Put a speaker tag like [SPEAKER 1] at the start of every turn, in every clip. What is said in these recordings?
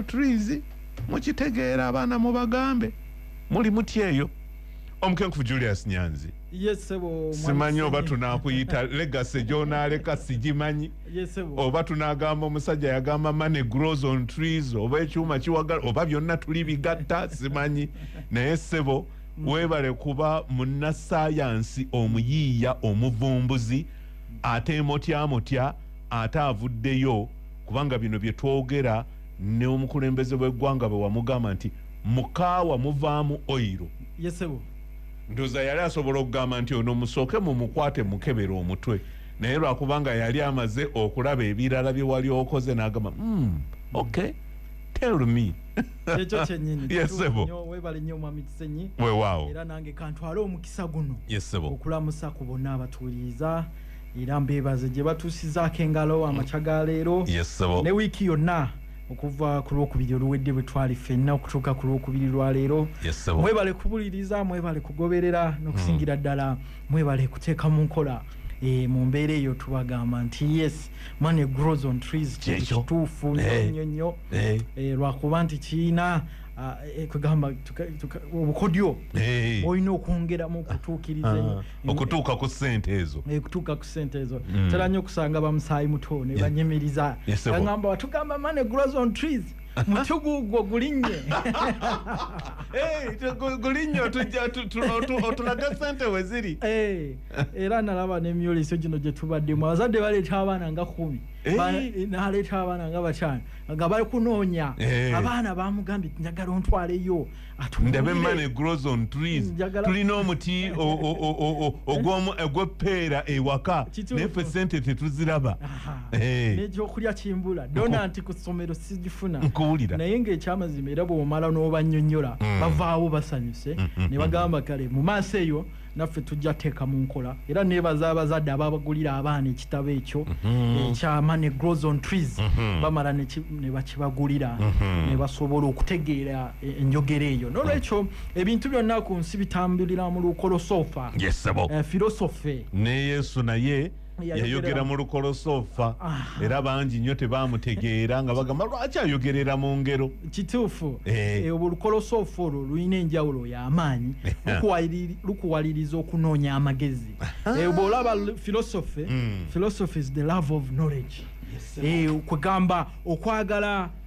[SPEAKER 1] trees mukitegeera abaana mubagambe muli mutya eyo omukenkufu julius nyanzi
[SPEAKER 2] simanyi oba
[SPEAKER 1] tunakuyita legase gyonaleka sigimanyi oba
[SPEAKER 2] tunagamba
[SPEAKER 1] omusajja yagamba money grows on trees oba ekyuma kiwagala oba byonna tuli bigatta simanyi naye sebo mm. webale kuba munnasayansi omuyiiya omuvumbuzi ate motya motya ate avuddeyo kubanga bino bye twogera ne omukulembeze bw'eggwanga bwe wamugamba nti mukaawa muvaamu oyiro yesebo
[SPEAKER 2] ndoza yali
[SPEAKER 1] asobola okugamba nti ono musooke mu mukwate mukebera omutwe naye lwakubanga yali amaze okulaba ebirala bye wali okoze n'agamba mm, okay tell me ekyo kyenyini
[SPEAKER 2] yesebo webale
[SPEAKER 1] nnyo omwami
[SPEAKER 2] kisenyi wewaawo era nange
[SPEAKER 1] kantwale
[SPEAKER 2] omukisa guno yesebo okulamusa
[SPEAKER 1] ku bonna
[SPEAKER 2] abatuwuliriza era mbeebaze gye batuusizaako engalo amakya ga leero ne wiiki
[SPEAKER 1] yonna
[SPEAKER 2] okuva ku lwokubiri oluwedde bwe twali ffenna okutuuka ku lwokubiri lwa leero mwebale
[SPEAKER 1] kubuliriza
[SPEAKER 2] mwebale kugoberera n'okusingira mm. ddala mwebale kuteeka mu nkola eh, mu mbeera eyo tubagamba nti yes money grows on trees kituufu eh. nnyo nnyo eh. lwakuba nti kirina Ah, eh, kugamba obukodyo olina okwongeramu okutuukiriza ah. okutuuka ku
[SPEAKER 1] sente ezo eh, kutuuka ku sente ezo
[SPEAKER 2] mm. tera nyo okusanga bamusaayi muto ne banyimiriza agamba watugamba mane grows on trees mutugugwo gulinye gulinye
[SPEAKER 1] otulaga sente weziri eh, era
[SPEAKER 2] nalaba nemyoleso gino gyetubaddemu abazadde baleeta abaana nga kumi eh. naleeta abaana nga bakyana nga bali kunoonya abaana bamugambye njagala ontwaleyo ndabe
[SPEAKER 1] money grows on trees mm, tulina omuti ogwomu egweppeera ewaka nayefe sente tetuziraba eh.
[SPEAKER 2] nekyokulya kimbula dona nti ku ssomero sigifuna nkuwulira naye
[SPEAKER 1] ngaekyamazima
[SPEAKER 2] era bwomala n'obanyonyola mm. bavaawo basanyuse mm, ne bagamba kale mu maaso eyo naffe tujja teeka mu nkola era nebaza abazadde ababagulira abaana ekitabo ekyo mhm. ekyama ne grows on trees mhm. bamala nebakibagulira mhm. nebasobola okutegeera e, enjogera eyo nolwekyo ebintu byonna ku nsi bitambulira mu lukolosoofa eh, filosofe ne yesu
[SPEAKER 1] naye yayogera mu lukolosoofa era bangi nnyo tebaamutegeera nga bagamba lwaki ayogerera mu ngero kituufu
[SPEAKER 2] eh. Eh, olukolosoofa olwo lulina enjawulo y'amaanyi lukuwaliriza okunoonya amagezi eh, bw'olaba philosophy hmm. philosophy is the love of knowledge kwegamba okwagala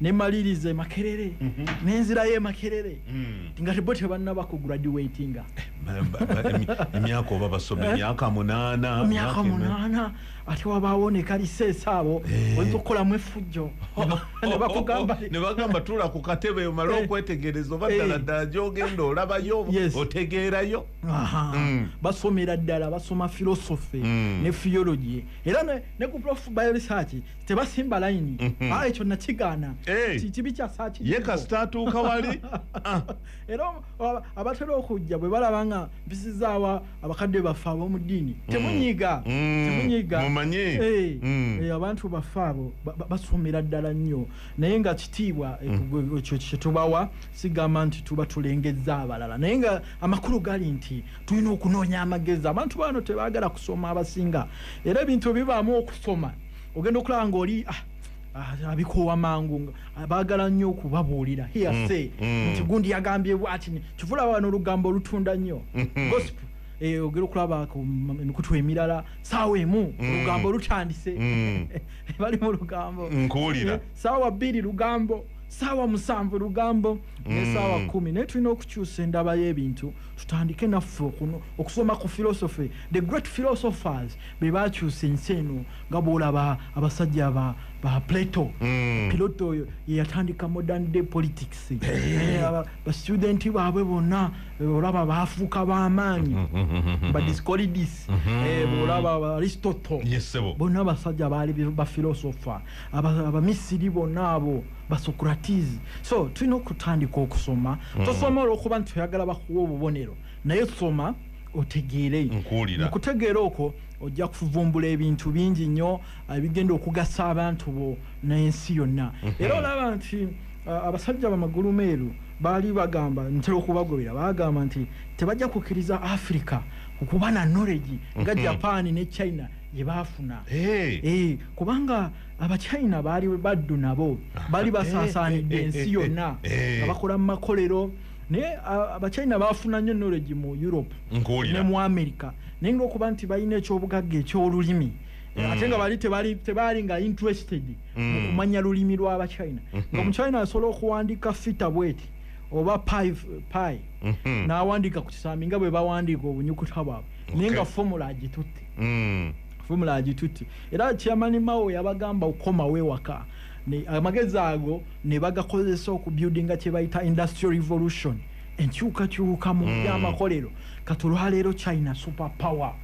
[SPEAKER 2] nemaliriza emakerere mhm. nenzirayo emakerere mm. nga tebo tebanaba ku graduatinga
[SPEAKER 1] emyaka oba basoma eh? emyaka munana emyaka munana ate wabawo nekalisesa abo eh. oyinza okukolamu efujjo nebagamba tula ku katebe omale eh. okwetegereza oba ddala ddala gyogenda olabayo otegeerayo mm. basomera ddala basoma philosophy mm. ne theology era ne ku prof bioresearch tebasimba layini mhm. ah, ekyo nakigaana kibi kyasakiye kasita atuuka wali ah. era
[SPEAKER 2] abatera okujja bwe balaba nga mpisizaawa abakadde baffe ab'omu ddiini mm. temunyiga mm. temunyiga eh, mm.
[SPEAKER 1] eh,
[SPEAKER 2] abantu baffe abo basuumira ddala nnyo naye nga kitiibwa eh, ekyo kyetubawa sigamba nti tuba tulengezza abalala naye nga amakulu gali nti tulina okunoonya amagezi abantu baano tebagala kusoma abasinga era ebintu ebibaamu okusoma ogenda okulaba ngaoli ah, ah, abikoowa mangu ah, bagala nnyo okubabuulira hiyase mm, mm. nti gundi yagambye bwati kivula bano olugambo olutunda nnyo mm-hmm. gosipu eh, ogera okulaba ku mikutu emirala saawa emu mm. olugambo lutandise bali mu lugambo nkuwulira eh, saawa
[SPEAKER 1] bbiri
[SPEAKER 2] lugambo saawa musanvu lugambo ne saawa kumi naye tulina okukyusa endaba y'ebintu tutandike naffe okuno okusoma ku philosophy the great philosophers be bakyusa ensi eno nga bwolaba abasajja ba, ba plato mm. piloto oyo yeyatandika modern day politics eh, bastudenti baabwe bonna eh, olaba baafuuka bamaanyi badiscolidis mm-hmm. eh, bwolaba aristotle bonna abasajja baali bafilosopher abamisiri bonna abo basocratizi so tulina okutandika okusoma mm. tosoma olwokuba nti oyagala bakuwa obubonero naye soma otegeere
[SPEAKER 1] okutegeera okwo
[SPEAKER 2] ojja kuvumbula ebintu bingi nnyo ebigenda okugasa abantu bo n'ensi yonna mhm. era olaba nti abasajja bamagulu meeru baali bagamba ntera okubagobera bagamba nti tebajja kukkiriza africa okuba na noregi nga mhm. japan ne china gye baafuna eh. Eh, kubanga abachina baali baddu nabo baali basaasaanidde ensi yonna nga bakola mu makolero naye abachina bafuna nnyo knowledge mu europe ne mu america naye ngaokuba nti balina ekyobugagga ekyolulimi mm. ate nga bali tebaali nga interested mm. mu kumanya lulimi lwabachina mm-hmm. nga muchina asobola okuwandiika fita bweti oba pi mm-hmm. n'awandiika ku kisambi nga bwe bawandiika obunyukuta bwabwe naye nga formula agitutte mm. fomula agitutte era chairman mao yabagamba okukomawo ewaka amagezi ago ne bagakozesa okubuildinga kye bayita industrial revolution enkyukakyuka mu hmm. byamakolero kati olwaleero china super power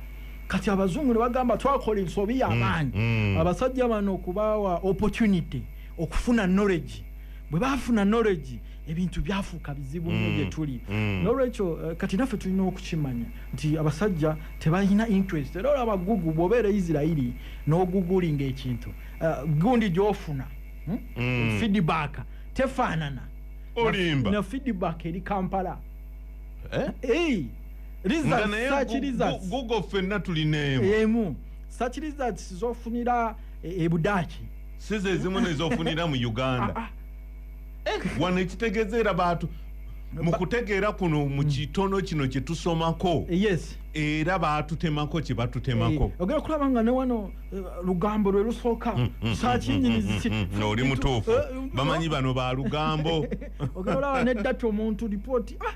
[SPEAKER 2] kati abazungu ne bagamba twakola ensobi hmm. yamaanyi hmm. abasajja bano okubaawa opportunity okufuna knowledge bwe bafuna knowledge ebintu byafuuka bizibu nyo mm. gyetuli mm. nolwekyo eh, kati naffe tulina okukimanya nti abasajja tebalina interest era olaba gugu bwobeera isirairi nogugulinga ekintu eh, gundi gyofuna hmm? mm. feedback tefaanana olimba
[SPEAKER 1] na feedback
[SPEAKER 2] eri kampala eh? hey,
[SPEAKER 1] gugo fenna tulina emu
[SPEAKER 2] sakiriza zofunira ebudaaki sizezimu
[SPEAKER 1] nezofunira mu uganda ah, ah. eh, wano ekitegeza era baatu mu kutegeera kuno mu kitono kino kye tusomako yes era baatutemako kye batutemako eh, ogera kulaba nga ne wano
[SPEAKER 2] eh, lugambo lwe lusooka mm, mm, sakinyiniziki
[SPEAKER 1] mm, nooli mutuufu eh, bamanyi bano ba lugambo ogera olaba
[SPEAKER 2] neddati omuntu lipooti ah!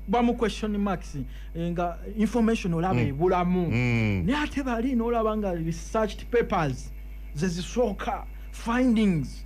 [SPEAKER 2] bamu question marks eh, nga information olaba mm. ebulamu mm. mm. naye ate bali nolaba nga researched papers zezisooka findings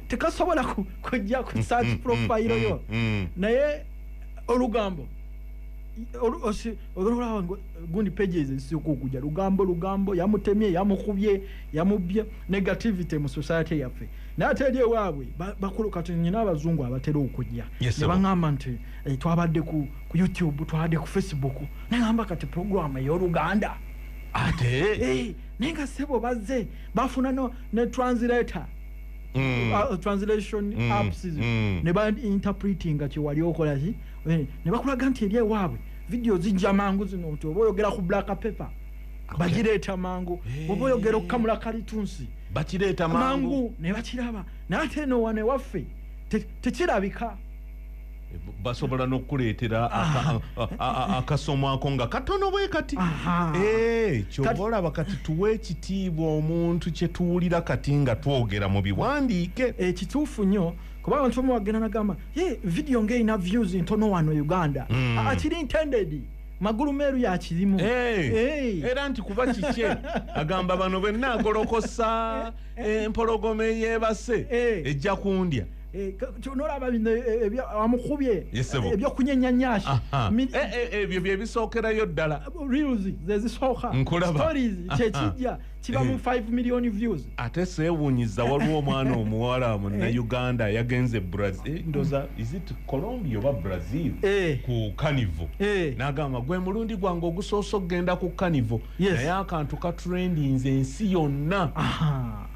[SPEAKER 2] tekasobola ku- kujja ku search mm, profile mm, yo mm. naye olugambo olu- osi- olwolaba ngo- gundi pages ezisooka okujja lugambo lugambo yamutemye yamukubye yamubbye negativity mu society yaffe naye ate eri ewaabwe ba- bakulu kati nyina abazungu abatera okujja Yes, sir. nebaŋamba nti eh, twabadde ku ku youtube twabadde ku facebook nagamba kati program ey'oluganda ate
[SPEAKER 1] Eh, naye nga sebo
[SPEAKER 2] bazze bafuna no ne translator Mm. Uh, translation mm. apps mm. ne ba interpreting nga kyewali okola ki eh, ne bakulaga nti eri ewaabwe vidiyo zijja mangu zino nti oba oyogera ku black paper okay. bagireeta mangu hey. oba oyogera okukamula kalitunsi bakireeta
[SPEAKER 1] mangu ne bakiraba
[SPEAKER 2] naye ate eno wane waffe tekirabika te
[SPEAKER 1] basobola nokukuleetera ah. akasomo ako nga katono bwe kati eh, kyoba olaba kati tuwa ekitiibwa omuntu kyetuwulira kati nga twogera mu biwandiike ekituufu eh, nnyo
[SPEAKER 2] kuba abantu omu wagenda nagamba ye vidiyo ngaerina views ntono wano uganda hmm. ah, akiri intended magulu meeru yakirimu era
[SPEAKER 1] nti kuba kikye agamba bano bwenna agolokosa eh, empologoma eyebase ejja kundya Eh, ka- kyona olaba
[SPEAKER 2] bino eh, ebya- amukubye Yes, sebo. ebyokunyenya nyashi Aha. Mi- Eh, eh,
[SPEAKER 1] ebyo byebisookerayo ddala reels
[SPEAKER 2] zezisooka Nkulaba. stories Aha. kyekijja kiba mu Eh. 5 million views ate seewunyiza
[SPEAKER 1] waliwo omwana omuwala munnauganda yagenze brazil ndoza is it colombia oba brazil Eh. ku kanivo Eh. n'agamba gwe mulundi gwange ogusoose okugenda ku kanivo Yes. naye akantu katrendinze ensi yonna Aha.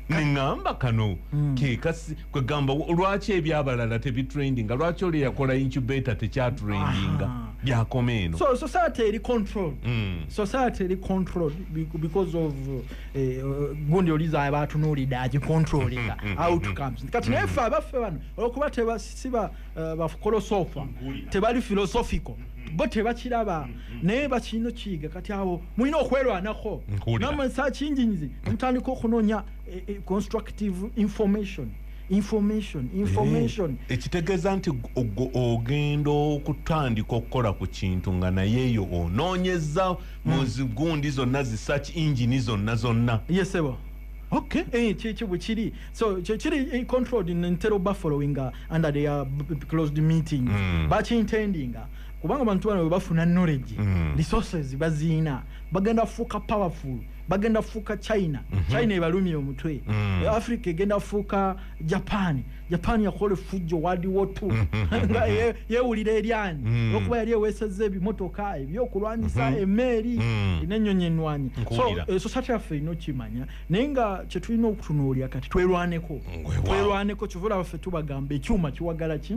[SPEAKER 1] neŋamba kano mm. kekasi kwegamba lwaki ebyabalala tebitrendinga lwaki oli yakola incubator tekyatrendinga byakoma eno so society eri
[SPEAKER 2] control mm. society eri control because of eh, uh, gundi oliza abatunulidde agicontrolinga mm, mm, mm, outcomes kati naye fe abaffe bano olwokuba tebasiba Eh, bafukolosofa mm-hmm. tebali filosofiko mm-hmm. bo tebakiraba mm-hmm. naye bakirina okiyiga kati awo mulina okwelwanako namansa kinjinyizi mutandika okunonya eh, eh, constructive information information information ekitegeeza nti
[SPEAKER 1] ogenda okutandika okukola ku kintu nga naye eyo onoonyeza mu mm. zigundi zonna zisaki ingini zonna zonna yesebo
[SPEAKER 2] Okay. Eh, kyekyo bwe kiri so kyekiri eh, controlled ntera oba following uh, under their uh, closed meetings mm. bakintendinga kubanga abantu bano bebafuna knowledge mm. resources baziina bagenda fuuka powerful bagenda fuuka china mm -hmm. china ebalumya omutwe mm. africa egenda fuuka japan japan yakola efujjo wadiwotu mm-hmm. nga yewulira eryani mm. olwokuba yali eweseza ebimotoka ebyokulwanyisa mm-hmm. emeeri mm. nenyonyi enwanyi eh, sosate yaffe erina okimanya naye nga kyetulina okutunuulira kati twerwaneko twerwaneko kivula baffe tubagamba ekyuma kiwagala ki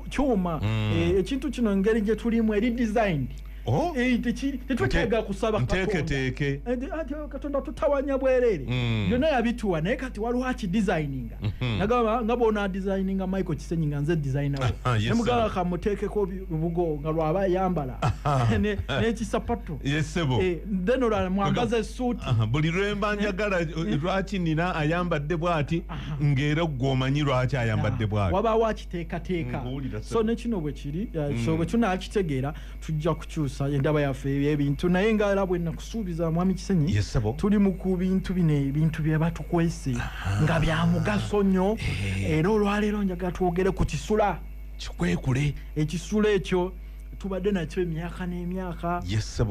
[SPEAKER 2] kyuma mm. eh, ekintu kino engeri gyeturimu eri designed Oh. Eh, eh, tetwetaaga kusaba eh, ah, katonda tutawanya bwereere mm. byonna yabituwa naye kati waliwo akidesigninga mm-hmm. nagamba nga bona designinga michael kisenyi nga nze designawo nemugamba kamuteekeko lubugo nga lwaba yambala nekisapatu then olwala mwambaza esuuti buli lwemba
[SPEAKER 1] njagala lwaki nina ayambadde bwati ngaera gwe omanyi lwaki ayambadde bwati wabawo akiteekateeka
[SPEAKER 2] so nekino bwekiri mm. so bwekino akitegeera tujja kukyusa endaba yaffe ebintu naye nga era bwe nakusuubiza mwami kisenyi yes, tuli mu ku bintu bino ebintu bye batukwese nga bya mugaso nnyo eh. era olwaleero njagala twogere ku kisula kikwekule
[SPEAKER 1] ekisula ekyo
[SPEAKER 2] tubadde nakyo emyaka n'emyaka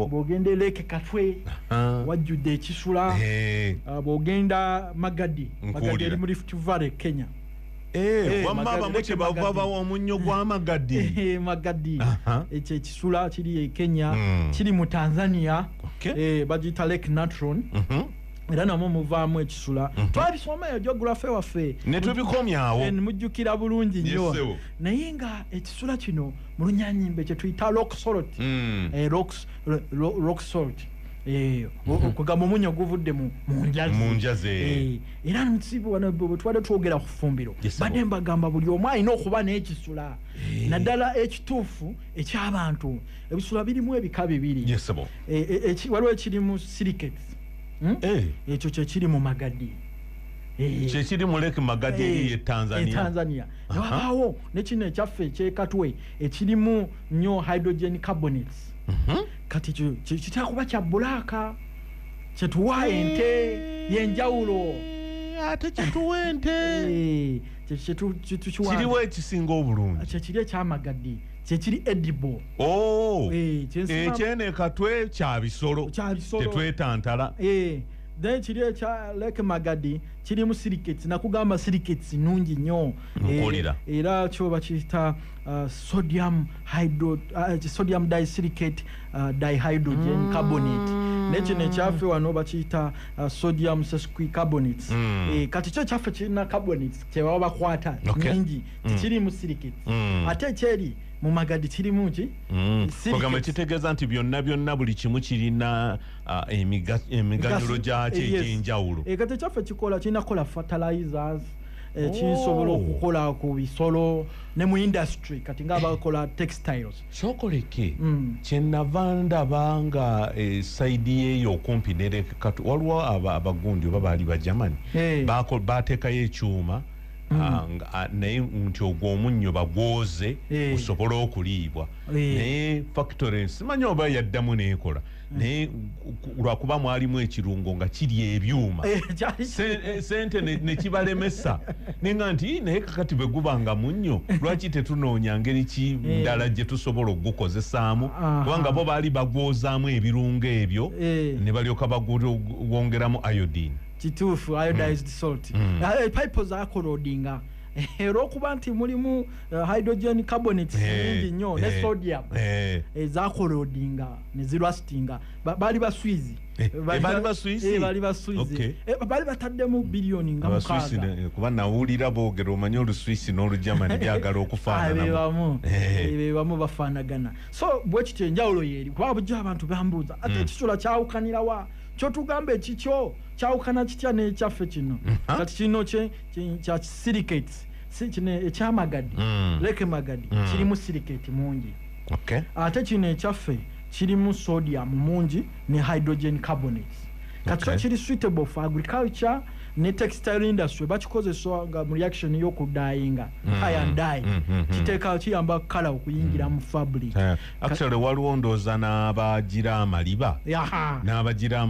[SPEAKER 2] bwogenda eleeke katwe wajjudde ekisula eh. ah, bwogenda magadi magadi eri mu lift valley kenya Eh, wamma
[SPEAKER 1] abamu kyebava bawa omunnyo gwamagadi eh, magadi
[SPEAKER 2] ekyo ekisula kiri e kenya hmm. kiri mu tanzania eh, bagiyita lake natron mhm. era namwe muvaamu ekisula mhm. twabisomayo geografe waffe netubikomyawo
[SPEAKER 1] mujjukira bulungi
[SPEAKER 2] nnyo naye nga ekisula kino mu lunyanyimbe kyetuyita rocksolt hmm. rocksolt Eh, okugamba omunyo guvudde mu njazi eh,
[SPEAKER 1] era nsibu
[SPEAKER 2] wano bwetwade twogera ku fumbiro badde mbagamba buli omu alina okuba n'ekisula eh. naddala ekituufu eky'abantu ebisula birimu ebika bibiri e, e, e, waliwo ekirimu siriketi hmm? eh. ekyo kyekiri mu magadi eh.
[SPEAKER 1] kyekiri mu lake magadi eri e tanzania
[SPEAKER 2] ewabaawo nekino ekyaffe ekyekatwe ekirimu nnyo hydrogen carbonates mhm. kati kitera kuba kya bulaaka kyetuwa ente yenjawulo eh, ate
[SPEAKER 1] kyetuwa ente kiriwo ekisinga obulungi kyekiri ekyamagadde
[SPEAKER 2] kyekiri edible oh, eh, ekyene
[SPEAKER 1] katwe kyabisolo tetwetantala
[SPEAKER 2] then kiri ekya lake magadi kirimu siriketi nakugamba siriketi nungi nnyo eh, era kyoba kiyita uh, sodium hydro uh, sodium disiricate uh, dihydrogen mm. carbonate naye kino ekyaffe wano bakiyita uh, sodium sesquicarbonates mm. e, kati kyo ekyaffe kirina carbonates kyebaba bakwata okay. nyingi mm. tikirimu mm. silicates mm. ate ekyeri mu magadi kirimu ki mm. ogamba
[SPEAKER 1] kitegeeza nti byonna byonna buli kimu kirina uh, emiganyulo gyakyo eh, egyenjawulo e, kati ekyaffe kikola
[SPEAKER 2] kirina kola fertilizers ekisobola eh, oh. okukola ku bisolo ne mu industry kati nga abakola textiles kyokoleke mm.
[SPEAKER 1] kyenava ndaba nga e, saidi yeyo okumpi nerekatu waliwo abagundi oba baali bajamani hey. batekayo ekyuma mm. ah, naye nti ogwo omunnyo bagwoze hey. osobole okuliibwa hey. naye factory simanyi oba yaddamu nekola naye lwakuba mwalimu ekirungo nga kiri ebyuma eh, eh, sente nekibalemesa nenga nti naye kakati bweguba nga munnyo lwaki tetunoonya ngeri ki eh. ndala gye tusobola okugukozesaamu kubanga bo baali bagwozaamu ebirungo ebyo ne balyoka bagwongeramu iodine kituufu
[SPEAKER 2] iodized mm. salt mm. pipe zakorodinga olwokuba nti mulimu uh, hydrogen carbonate eh, nyingi nnyo ne eh, sodium eh. ezakolodinga nezirwasitinga baali baswizi bali bataddemu biliyoni nga mukaaga nawulira
[SPEAKER 1] boogera omanyi oluswisi n'olugermani byagala okufaananabebamu bebamu
[SPEAKER 2] bafaanagana so bwekityo enjawulo yeeri kuba bujjo abantu bambuuza ate hmm. ekisula kyawukanirawa kyotugamba ekikyo kyawukana kitya n'ekyaffe kino kati kino kya silicates kino ekyamagadi mm. leke magadi mm. kirimu siliketi mungi okay. ate kino ekyaffe kirimu sodium mungi ne hydrogen carbonate kati okay. kiri suitable for agriculture ne textile industry bakikozesa nga mu reaction y'okudayinga mm. iron dye mm, mm, mm. kiteeka kiyamba kala okuyingira mu fabric yeah. Actually waliwo
[SPEAKER 1] ndoza n'abagira amaliba n'abagira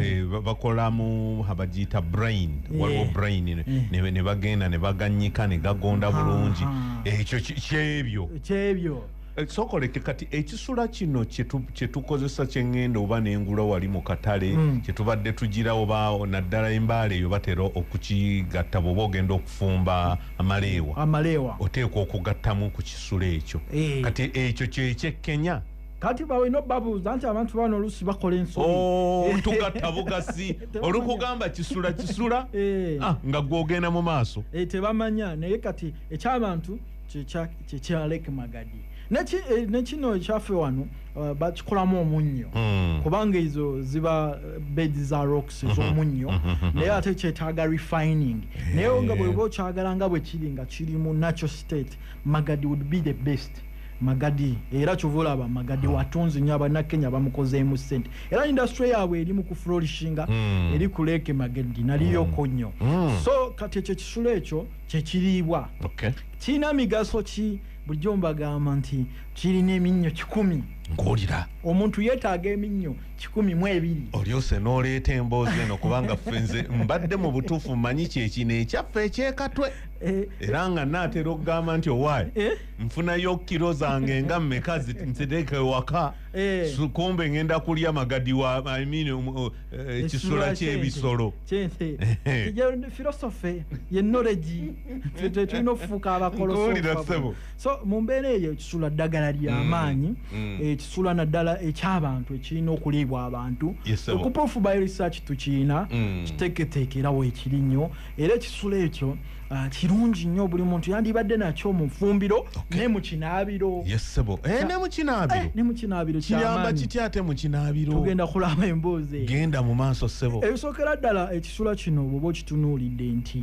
[SPEAKER 1] eh, bakolamu abagiyita brain eh. waliwo brain eh. ne bagenda ne baganyika ne gagonda bulungi ekyo kyebyo kyebyo sokoleke kati ekisula kino kyetukozesa kyengenda oba nengula wali mu katale hmm. kyetubadde tugira oba naddala embaala eyo batera okukigatta bwoba ogenda okufumba amaleewa amaleewa oteekwa okugattamu ku kisulo ekyo eh. kati ekyo kyekyekkenya kati bawe no
[SPEAKER 2] babuuza nti abantu bano olusi bakola ensotugatta oh, bugasi
[SPEAKER 1] olukugamba kisula kisula eh. ah, nga gwogenda mu maaso eh, tebamanya naye
[SPEAKER 2] kati ekyabantu kyekyaleke magadi Eh, nekino ekyaffe wano eh, bakikolamu omunnyo hmm. kubanga ezo ziba eh, bed za rocks mhm. ezomunnyo mhm. mhm. naye ate kyetaaga refining naye nga bweba okyagala nga bwe kiri nga kiri mu natural state magadi would be the best magadi era kyova olaba magadi hmm. watunzi nyo abanakenya bamukozeemu sente era industry yaabwe eri mu kuflorishinga hmm. eri ku leeke magadi naliyoko nnyo so kati ekyo ekisulo ekyo kyekiriibwa kirina migaso ki bulijjo mbagamba nti kirina eminnyo kikumi ng'olira
[SPEAKER 1] omuntu yeetaaga
[SPEAKER 2] eminnyo kikumi mu ebiri olyose n'oleeta
[SPEAKER 1] emboozi eno kubanga ffe nze mbadde mu butuufu mmanyi kyekino ekyaffe ekyekatwe eh. era nga naatera okugamba nti owaayi eh. nfunayo kiro zange nga mmeka nziteeka ewaka eh. kumbe ngenda kulya magadi wa imean um, uh, Eh, ekisula kyebisolo kyente philosophy
[SPEAKER 2] ye knowledge tulina okufuuka abakolosoo so mu mbeera eyo ekisula ddagala lyamaanyi mm, mm. eh, ekisula naddala ekyabantu ekirina okuliibwa abantu okuproof by research tukiina mm. kiteketeekerawo ekiri nnyo era ekisula ekyo Ah, kirungi nnyo buli muntu yandibadde nakyo mu nfumbiro okay. ne mu kinaabiro yesebo eh, ne mu kinaabiro eh, ne mu kinaabiro kiyamba kiti ate mu
[SPEAKER 1] kinaabiro tugenda kulaba emboozi
[SPEAKER 2] genda mu maaso
[SPEAKER 1] sebo ebisookera ddala
[SPEAKER 2] ekisula kino bwoba okitunuulidde nti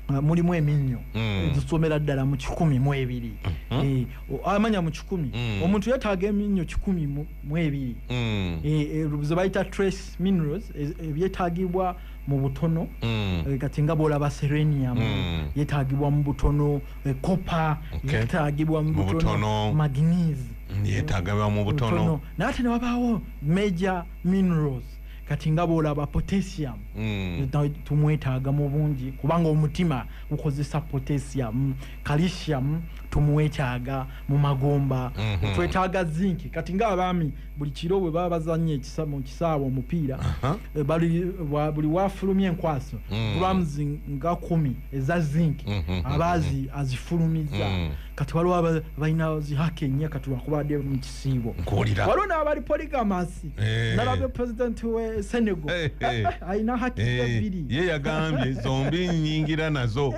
[SPEAKER 2] ah, mulimu eminnyo mm. egisomera ddala mu kikumi mu ebiri mm -hmm. e, amanya mu kikumi mm. omuntu yetaaga eminnyo kikumi mu ebiri mm. e, e, ze bayita trace minerals e, ebyetaagibwa e, mu butono mm. eh, kati nga bwolaba serenium mm. yetagibwa mu butono eh, copper okay. yetagibwa mu butono magnes mm, yetagibwa mu
[SPEAKER 1] butono naye ate newabawo
[SPEAKER 2] major minerals kati nga bwolaba potassium mm. tumwetaaga mu bungi kubanga omutima gukozesa potassium calcium tumwetaaga mu magomba mm -hmm. twetaaga zinki kati nga abaami buli kiro bwe baba bazannya ekisa- mu kisaawe omupiira Aha. eh, bali- wa- buli wafulumya enkwaso Mm. grams nga kumi eza zinc Mhm, aba azi- azifulumizza Mm. kati waliwo aba- balina zihaka ennya kati wakubadde mu kisiibo Nkuwulira. waliwo n'abali poligamasi Eh. nalabye pulezidenti we senegal Eh, eh. alina haki Eh, ebbiri ye yagambye
[SPEAKER 1] zombi nyingira nazo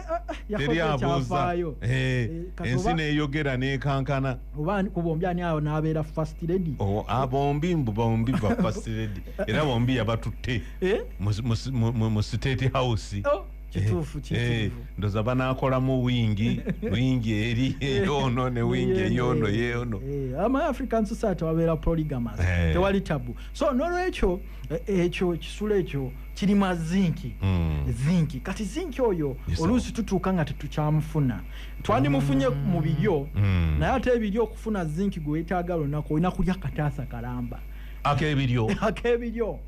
[SPEAKER 1] yakoze teri abuuza ekyafaayo. Eh, Eh, kati ensi oba- neyogera nekankana oba ku bombi ani
[SPEAKER 2] awo n'abeera first lady oh, ah, bombi mbu
[SPEAKER 1] bombi ba first lady era bombi yabatutte eh? mu state house oh, kituufu eh, kituufu
[SPEAKER 2] eh, ndoza
[SPEAKER 1] banakolamu wingi wingi eri eyono ne wingi eyono yeyono ama african
[SPEAKER 2] society wabeera polygamous tewali tabu so nolwekyo ekyo kisula ekyo kirima zinki hmm. zinki kati zinki oyo oluusi tutuuka nga tetukyamufuna twandimufunye mu biryo mm. naye ate ebiryo okufuna zinki gwe wetaaga lunaku olina kulya kataasa kalamba akebiryo akebiryo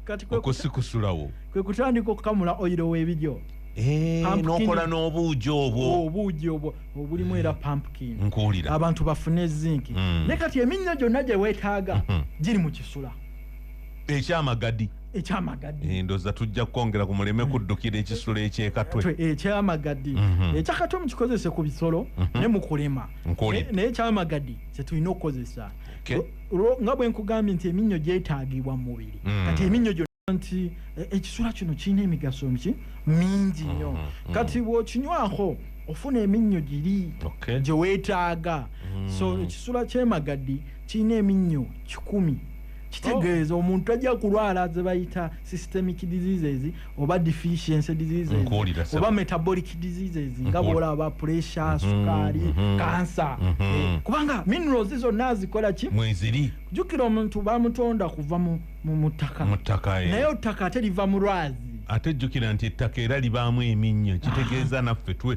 [SPEAKER 1] katiokusikusulawo kwe kutandika
[SPEAKER 2] okukamula oyiro w'ebiryo eh, nokola
[SPEAKER 1] n'obuugi obwo oh, obuugi obwo
[SPEAKER 2] obulimu era pumpkin nkuwulira abantu
[SPEAKER 1] bafune
[SPEAKER 2] zinki mm. ne kati eminnyo gyonna gye weetaaga mm-hmm. giri mu kisula ekyamagadi
[SPEAKER 1] ekyamagadi eh, ndoza tujja kwongera ku muleme kuddukira ekisulo ekyekatwe ekyamagadi
[SPEAKER 2] mhm. ekyakatwe mukikozese ku bisolo mhm. ne mukulema naye ekyamagadi kyetulina okukozesa nga bwe nkugambye nti eminnyo gyetaagibwa mu mubiri mm. kati eminnyo gyonna nti e, ekisula kino kirina emigaso mki mingi nnyo mhm, mm. kati bw'okinywako ofuna eminnyo giri gye weetaaga mm. so ekisula kyemagadi kirina eminnyo kikumi kitegeeza omuntu tajja kulwala zebayita systemic diseases oba deficiency diseases oba metabolic diseases nga bwolaba pressure mhm, sukaali mhm. kansa mhm. eh, kubanga minerals zonna azikola ki mweziri jukira omuntu bamutonda kuva mu mutaka
[SPEAKER 1] mutaka
[SPEAKER 2] eh. naye otaka ate liva mulwazi ate
[SPEAKER 1] jukira nti ettaka era libaamu eminnyo kitegeeza naffe twe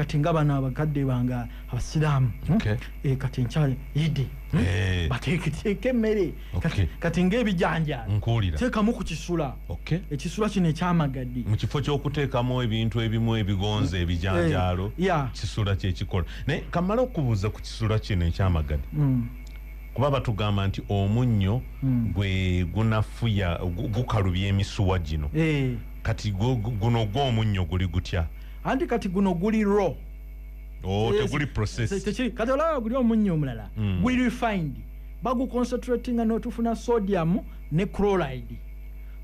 [SPEAKER 2] kati nga bano abakadde bange abasiraamu hmm? okay. e, kati nkya idi hmm? hey. Eh. bateeketeeka emmere okay. kati ngaebijanjateekamu ku kisula okay. ekisula kino ekyamagaddi mu kifo kyokuteekamu
[SPEAKER 1] ebintu ebimu ebigonza hmm. ebijanjaalo hey. Eh, yeah. kisula kyekikola naye kamala okubuuza ku kisula kino ekyamagaddi mm. kuba batugamba nti omunnyo mm. gwe gunafuya gukalubya emisuwa gino hey. Eh. kati guno gwomunnyo guli gutya anti kati guno
[SPEAKER 2] guli raw oh
[SPEAKER 1] teguli process tekiri kati olaba guli omunyo
[SPEAKER 2] omulala mm. guli refined bagu concentrating no tufuna sodium ne chloride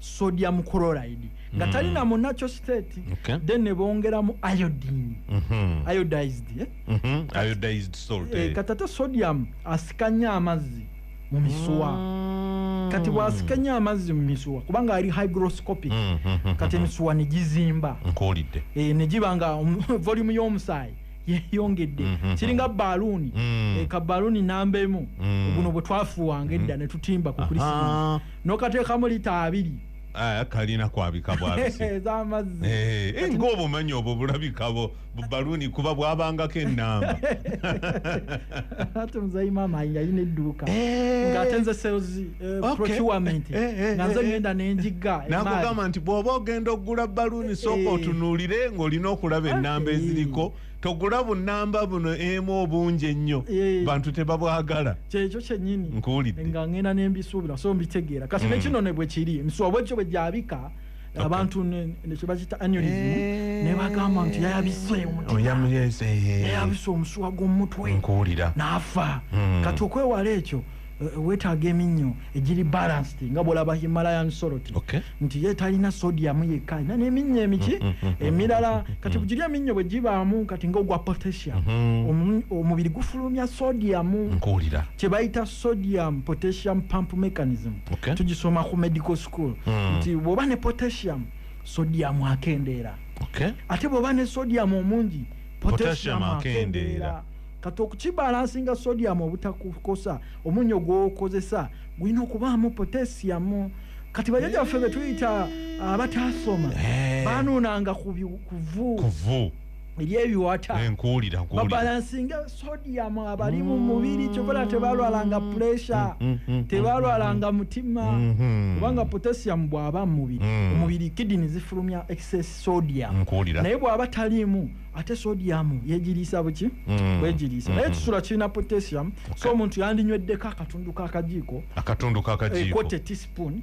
[SPEAKER 2] sodium chloride nga mm. talina mu natural state okay. then ne bongera mu iodine mm -hmm. iodized eh? mm
[SPEAKER 1] -hmm. iodized salt eh, eh. katata sodium
[SPEAKER 2] asikanya amazzi mu misuwa mm. kati bwasika nnyo amazzi mu misuwa kubanga ali hygroscopic mm, mm, kati emisuwa ne gizimba nkuwulidde eh, ne
[SPEAKER 1] giba nga
[SPEAKER 2] volume y'omusaayi yeyongedde mm-hmm. kiringa baluuni mm. eh, ka baluuni namba emu mm. buno bwe twafuwanga edda mm. ne tutimba ku krisimasi n'okateekamu lita abiri ah, kalina
[SPEAKER 1] kwabika bwabisi ez'amazzi eh,
[SPEAKER 2] eh, ng'obumanyi
[SPEAKER 1] obwo bulabikabo bubaluuni kuba bwabangako enamba
[SPEAKER 2] ate muzayi maama ayinga yina edduuka eh. ngaate nze sales eh, procurement eh, nga nze ngenda nenjigga nakugamba nti bwoba
[SPEAKER 1] ogenda okugula baluuni sooka otunuulire ngaolina okulaba enamba eziriko togula bunamba buno emu obungi ennyo bantu tebabwagala kyekyo kyenyini
[SPEAKER 2] nkuwulidde nga ngenda
[SPEAKER 1] nembisuubira
[SPEAKER 2] so mbitegeera kati nekino hmm. nebwekiri nswabwekyo bwegyabika abantu nekyebakita anulism eh. nebagamba nti yayabise omutyayabise omusuwa gwomumutwe nkuwulira naafa
[SPEAKER 1] hmm.
[SPEAKER 2] kati okwewala ekyo eh, wetaaga eminnyo egiri balanced nga bwolaba himalayan sorot nti ye talina sodium yekka alina neminnyo emiki hmm, hmm, emirala kati bugiri eminnyo bwe gibaamu kati nga ogwa potassium omubiri gufulumya sodium kyebayita sodium potassium pump mechanism tugisoma ku medical school school mm. nti bwoba ne potassium sodium akendeera okay. ate bwoba ne sodium omungi potassium akendeera kati okukibalansinga sodium obutakukosa omunyo gwokozesa gulina okubaamu potassium kati bajaja baffe betuyita abataasoma eh. banuunanga kuvu ebyebiwata eh, nkuwulira nkuwulira babalansinge sodium abali mu mubiri kyokola tebalwalanga mm, pressure mm, mm, tebalwalanga mutima mm-hmm. kubanga potassium bwaba mu mubiri omubiri kidini zifulumya excess sodium naye bwaba taliimu ate sodium yegiriisa buki bwegiriisa naye ekisula kirina potassium so omuntu yandinywedde ka akatundu kakajiiko akatundu kakajiiko eh, teaspoon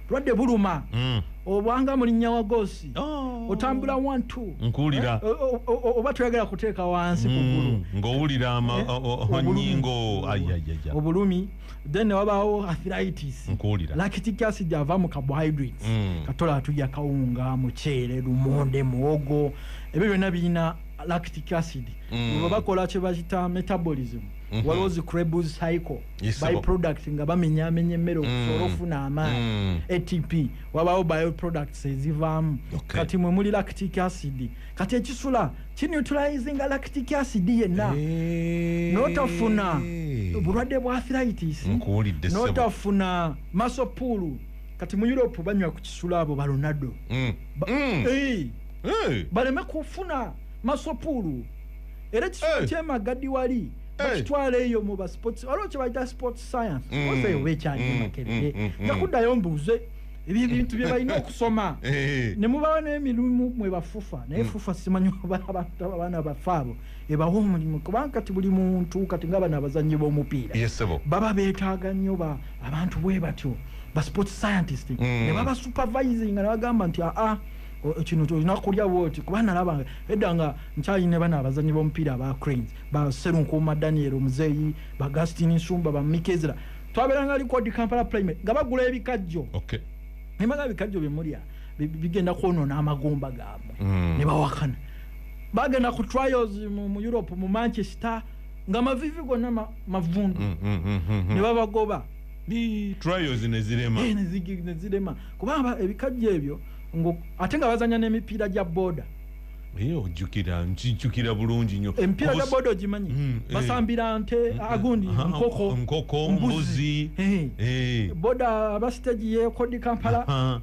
[SPEAKER 2] bulwadde buluma mm. obwanga mulinya wa gosi oh. otambula wantu nkuwulira
[SPEAKER 1] eh, oba toyagala
[SPEAKER 2] kuteeka wansi mm. kugulu ngaowulira
[SPEAKER 1] amanyingo eh?
[SPEAKER 2] obulumi then newabaawo athiritis nkuwulira lactic acid ava mu carbohydrates mm. katola atulya kawunga muceere lumonde muwogo ebyo byonna birina lactic acid mm. bakola kyebayita metabolism mm-hmm. waliwo zi crebus cycle byproduct nga bamenyamenya emmere mm. okusobola ofuna amaanyi mm. atp wabawo bioproducts ezivaamu kati mwe muli lactic acid kati ekisula kinutralizinga lactic acid yenna eh. notafuna obulwadde bwa thritis notafuna masopuulu kati mu europe banywa ku kisula abo balonado mm. eh. eh. baleme kufuna masopuulu era ekisula kyemagadi wali bakitwala eyo mu basports waliwo kyebayita sports science mm. oze oba ekyalimu mm, makerere mm, nja kuddayo mbuuze ebintu bye balina okusoma eh. ne mubawa n'emirimu mwe bafufa naye fufa simanyi abaana bafe abo ebawa omulimu kubanga kati buli muntu kati nga bano abazannyi b'omupiira baba beetaaga nnyo abantu bwe batyo ba sports scientist ne baba supervising nga nebagamba nti aa ah, ah, kino olina kulya bwoti kuba nalabanga edda nga nkyalina bana abazanyi bomupiira aba cranes ba Serunkuuma Daniel Muzeeyi, ba Gastini Nsumba, ba Mike Ezra. Twaberanga likodi Kampala Primary nga bagula ebikajjo. Okay. Ne bagula ebikajjo bye mulya bigenda kwonoona amagumba gaabwe mm. ne bawakana. Bagenda ku trials mu, mu Europe mu Manchester nga mavivi gonna ma, mavundu mm, mm, mm, mm, mm. ne babagoba
[SPEAKER 1] trials ne zirema eh, ne
[SPEAKER 2] zirema kuba ebikajjo ebyo ate nga bazanya n'emipiira gya boda Eh, ojjukira nkijjukira
[SPEAKER 1] bulungi nyo emipiira gya boda ogimanyi
[SPEAKER 2] mm, eh. basambira nte mm, mm. agundi nkoko nkoko
[SPEAKER 1] mbuzi eh.
[SPEAKER 2] boda abasitegi yekodi kampala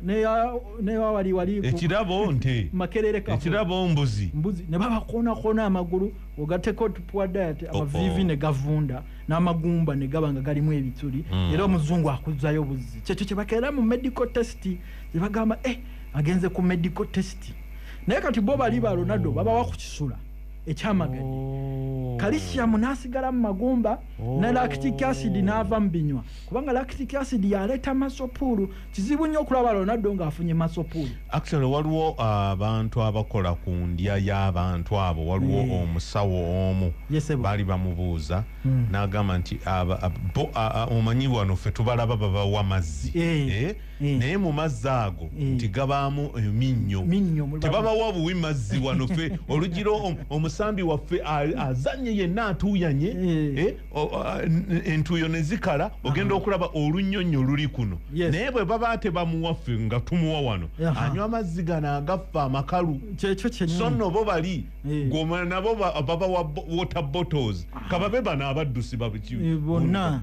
[SPEAKER 2] newawali wali ekirabo nte
[SPEAKER 1] makerereka ekirabo
[SPEAKER 2] mbuzi
[SPEAKER 1] mbuzi ne babakonakona
[SPEAKER 2] amagulu ogateko tupuwa diet oh, amavivi oh. ne gavunda n'amagumba ne gaba nga galimu ebituli era omuzungu akuzzayo buzzi kyekyo kyebakeera mu medical test kyebagamba eh agenze ku medical test naye kati bo bali ba ronaldo babawa ku kisula ekyamagani oh. kalisiyamu nasigala mu magumba oh. ne lactic acid naava mu binywa kubanga lactic acid yaleeta masopuulu kizibu nnyo okulaba ronaldo ng'afunye masopuulu actually waliwo
[SPEAKER 1] uh, abantu abakola ku ndya y'abantu abo waliwo eh. omusawo omu baali bamubuuza hmm. n'agamba nti omanyi wano ffe tubalaba babawa mazzi eh. Eh? Eh. naye mu mazzi ago eh. nti gabaamu eminnyo eh, tebabawa buwi mazzi wano fe olugira omusambi waffe azanye yenna atuuyanye entuuyo ne zikala ogenda okulaba olunyonyo luli kuno naye bwe baba tebamuwaffe nga tumuwa wano anywa amazzi gano agaffe amakalu so no bo bali goma nabo babawa water bottles kababe bano abaddusi babona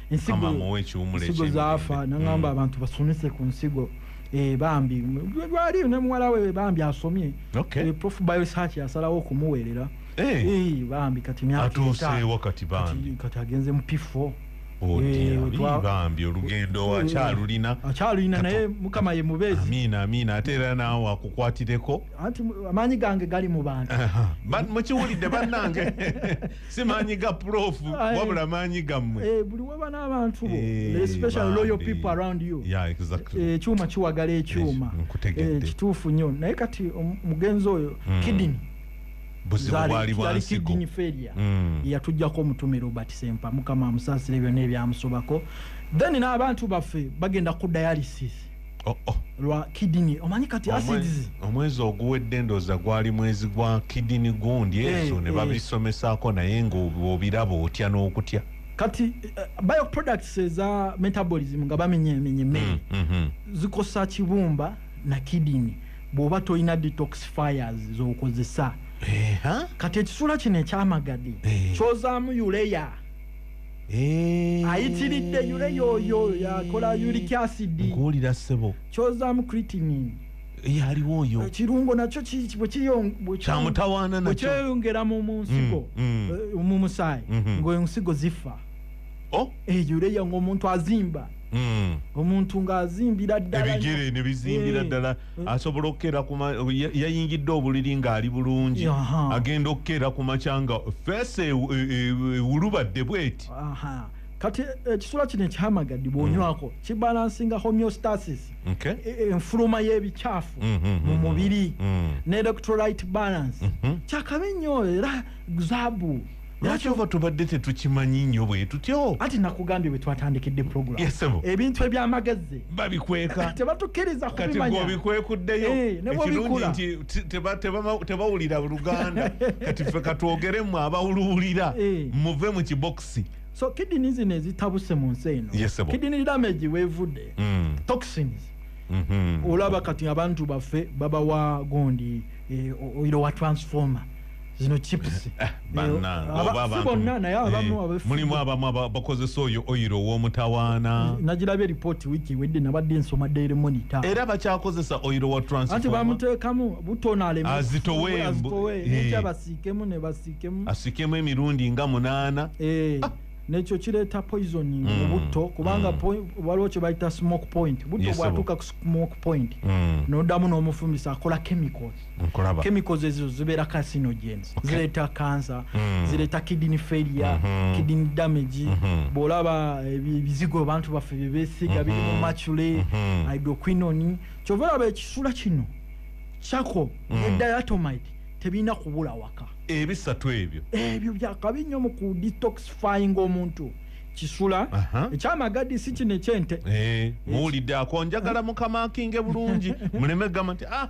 [SPEAKER 2] nsigo zaafa nangamba mm. abantu basomese ku nsigo eh, bambi lwali ne muwala we bambi asomye eh, prof biosearch yasalawo okumuweerera eh. bambi kati myakati
[SPEAKER 1] agenze mu pifo bambi olugendo wakyalulina akyalulina naye mukama
[SPEAKER 2] ye mubeezi amiina amiina ate era
[SPEAKER 1] naawe akukwatireko anti amaanyi
[SPEAKER 2] gange gali mu bantu mukiwulidde
[SPEAKER 1] bannange si maanyi ga prof wabula maanyi gammwe eh, buli waba n'abantu
[SPEAKER 2] bo eh, especially loyal people around you eh, ekyuma kiwagala ekyuma kituufu nnyo naye kati omugenzi oyo hmm. kidini zali kidini feria hmm. yatujjako omutume robert sempa mukama amusaasire byonna ebyamusobako then n'abantu baffe bagenda ku dialysis oh, oh. lwa kidini omanyi kati acids omwezi oguwedde
[SPEAKER 1] ndoza gwali mwezi gwa kidini gundi eh, ezo hey, ne eh. babisomesaako hey. naye ngaobiraba otya n'okutya kati uh,
[SPEAKER 2] bio products eza metabolism nga bamenyemenye emmere mm, mm -hmm. zikosa kibumba na kidini bw'oba tolina detox fires z'okozesa hey, huh? kati ekisula kino ekyamagadi hey. kyozaamu uleya Eh. ayitiridde yule yoyo yakola uric acid nkuwulira ssebo
[SPEAKER 1] kyozamu
[SPEAKER 2] creatinine yaliwo
[SPEAKER 1] oyo ekirungo nakyo ki- ki-
[SPEAKER 2] bwe kiyo- bwe ki-
[SPEAKER 1] Kyamutawaana bwe nakyo. kyeyongera mu mu nsigo
[SPEAKER 2] Mm, mm. eh, mu musaayi Mhm. ng'ensigo zifa Oh, eyo leya ng'omuntu azimba mm. omuntu ng'azimbira ddala ebigere ne bizimbira
[SPEAKER 1] Eh, ddala hmm. asobola okukera yayingidde obuliri ng'ali bulungi agenda okukera ku makya nga feesi e, e, e, ewulubadde bweti kati
[SPEAKER 2] ekisula kino ekihamagadi bwonywako hmm. kibalansinga homeostasis enfuluma y'ebikyafu hmm, mu mubiri ne electrolyte balance kyakabi nnyo era zabu lwaki ova
[SPEAKER 1] tubadde tetukimanyi nnyo bwe tutyo anti nakugambye bwe
[SPEAKER 2] twatandikidde programu yesebo ebintu eby'amagezi babikweka
[SPEAKER 1] tebatukkiriza
[SPEAKER 2] kubimanya kati obikwekuddeyo
[SPEAKER 1] eh, ekirungi nti tebawulira luganda kati ffe katwogeremu abawuluwulira eh. muve mu kibokisi so kidini zino
[SPEAKER 2] ezitabuse mu nsi eno yesebo kidini damage wevudde mm. toxins mm-hmm. olaba kati abantu baffe babawa gondi eh, oilo wa transformer zino chips eh,
[SPEAKER 1] bannangebonna naye abamu eh, mulimu abamu abakozesa oyo oyiro ow'omutawaana nagirabye ripooti
[SPEAKER 2] wiiki wedde nabadde nsoma daily monitor era bakyakozesa
[SPEAKER 1] oyiro wa transanti bamuteekamu
[SPEAKER 2] butono alemazitowembabasiikemu eh. ne basiikemu asiikemu emirundi
[SPEAKER 1] nga munaana ah. nekyo kireeta
[SPEAKER 2] poisoning mm. mubutto kubanga mm. waliwo kyebayita smoke point butto bwatuuka ku smoke point mm. nodamu n'omufumisa akola chemicals nkulaba chemicals ezo zibera carcinogens okay. zileta cancer mm. zileta kidney failure mm -hmm. kidney damage mm -hmm. bolaba eh, bizigo abantu baffe bebesiga mm -hmm. biri mu mhm. machule mm -hmm. hydroquinone kyova olaba ekisula kino chako mm. ne diatomite tebirina kubula waka ebisatu ebyo
[SPEAKER 1] ebyo byakabi nnyo mu ku
[SPEAKER 2] detoxifying omuntu kisula ekyamagadi si kino ekyente eh, muwulidde
[SPEAKER 1] akonjagala mukamakinge bulungi muleme gamba nti ah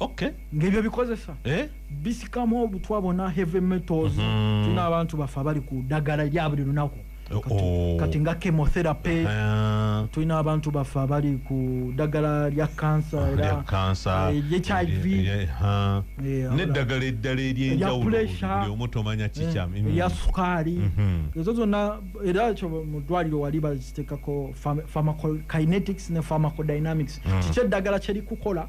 [SPEAKER 2] okay ngebyo bikozesa eh bisikamu obutwa bona heavy metals mm -hmm. tuna abantu bafa bali ku dagala lya buli lunaku oh, kati, oh. kati nga chemotherapy uh -huh. tuna abantu bafa bali ku dagala lya cancer ah, era cancer uh, eh, HIV yeah, yeah, yeah. yeah,
[SPEAKER 1] ne dagala eddala eri enjawulo buli omuto manya chicha eh, mm. ya sukari
[SPEAKER 2] mm -hmm. ezo zona era cho mudwali lo waliba zitekako pharmacokinetics ne pharmacodynamics mm. chiche dagala cheri kukola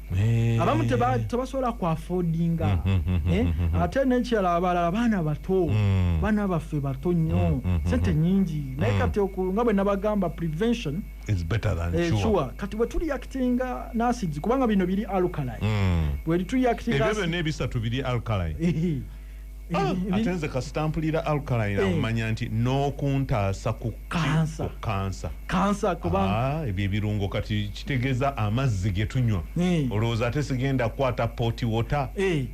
[SPEAKER 2] Eh. abamu tebasobola ku afodinga mm, mm, mm, eh? ate nekirala abalala baana bato baana baffe bato nnyo sente nyingi naye kati nga bwe nabagamba prevention ekiwa
[SPEAKER 1] eh, kati bwe
[SPEAKER 2] tuliyakitinga nasids kubanga bino biri alkali bwe tuyakitinga ebyo byonna ebisatu biri
[SPEAKER 1] alkali Ah, ate nze kasita mpulira alkaline eh. amanya nti n'okuntaasa ku kansa kansa kansa kubanga ah, ebyo ebirungo kati kitegeeza amazzi ge tunywa eh. olowooza ate sigenda kukwata poti wota eh.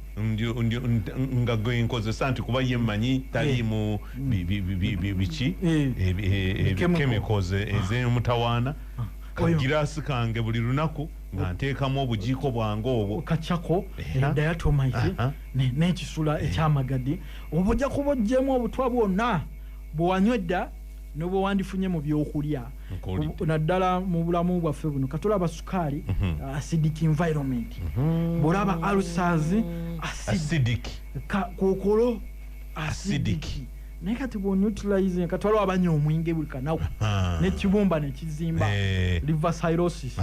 [SPEAKER 1] nga gwe nkozesa nti kuba ye mmanyi taliimu biki chemicals ez'emutawaana ah. kagiraasi kange buli lunaku nga nteekamu obujiiko bwange obwo kacako
[SPEAKER 2] dayatomaisi n'ekisula eh. ekyamagadi oba ojja kuba ojjemu obutwa bwonna bwewanywedda nobwe wandifunye mu byokulya naddala mu bulamu bwaffe buno katolaba sukaali mhm. uh, acidic environment mhm. bwolaba alsars acidic kokolo acidic naye kati bwonutilize kati waliwo abanya omwenge buli kanaku nekibumba nekizimba eh. liver syrosis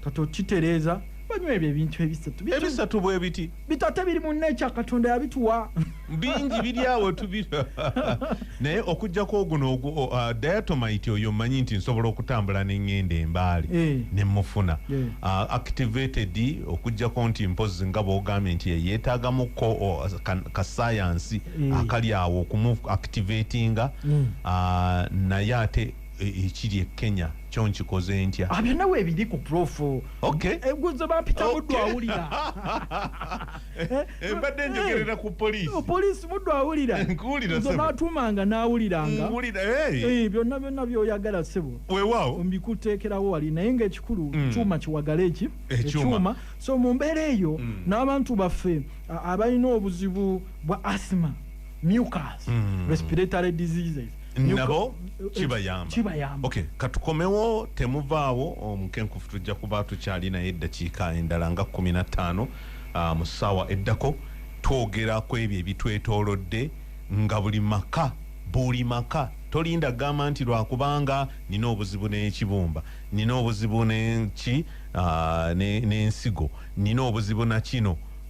[SPEAKER 2] kati okitereeza banywa ebyo ebintu ebisatu ebisatu
[SPEAKER 1] bwebiti bitate biri mu nature
[SPEAKER 2] katonda yabituwa bingi biri
[SPEAKER 1] awo tubira naye okujjako oguno uh, diatomite oyo manyi nti nsobola okutambula nengenda embaali hey. Eh. nemufuna hey. Eh. uh, activated okujjako nti mpozi nga bwogambye nti yeyetagamuko uh, kasayansi hey. Eh. akali awo okumu activatinga mm. uh, naye ate ekiri e kenya kyo nkikoze ntya ah, byonna weebiri ku
[SPEAKER 2] profu eguzo eh, bampita muddu awulira eh, eh,
[SPEAKER 1] mbadde njogerera ku poliisi oh, poliisi muddu
[SPEAKER 2] awulira nze batuumanga n'awuliranga byonna byonna byoyagala sebo wewaawo mbikuteekerawo
[SPEAKER 1] wali
[SPEAKER 2] naye ngaekikulu mm. kyuma kiwagala eki ekyuma so mu mbeera eyo mm. n'abantu baffe abalina obuzibu bwa asima mucas mm. respiratory diseases nabo
[SPEAKER 1] kibayamba kibayamba okay katukomewo temuvaawo omukenkufu tujja kuba tukyali naye eddakiika endala nga kumi na ttaano ah, mu ssaawa eddako twogera ku ebyo ebitwetoolodde nga buli maka buli maka tolinda gamba nti lwakubanga nina obuzibu n'ekibumba nina obuzibu nenki ah, ne- n'ensigo nina obuzibu na kino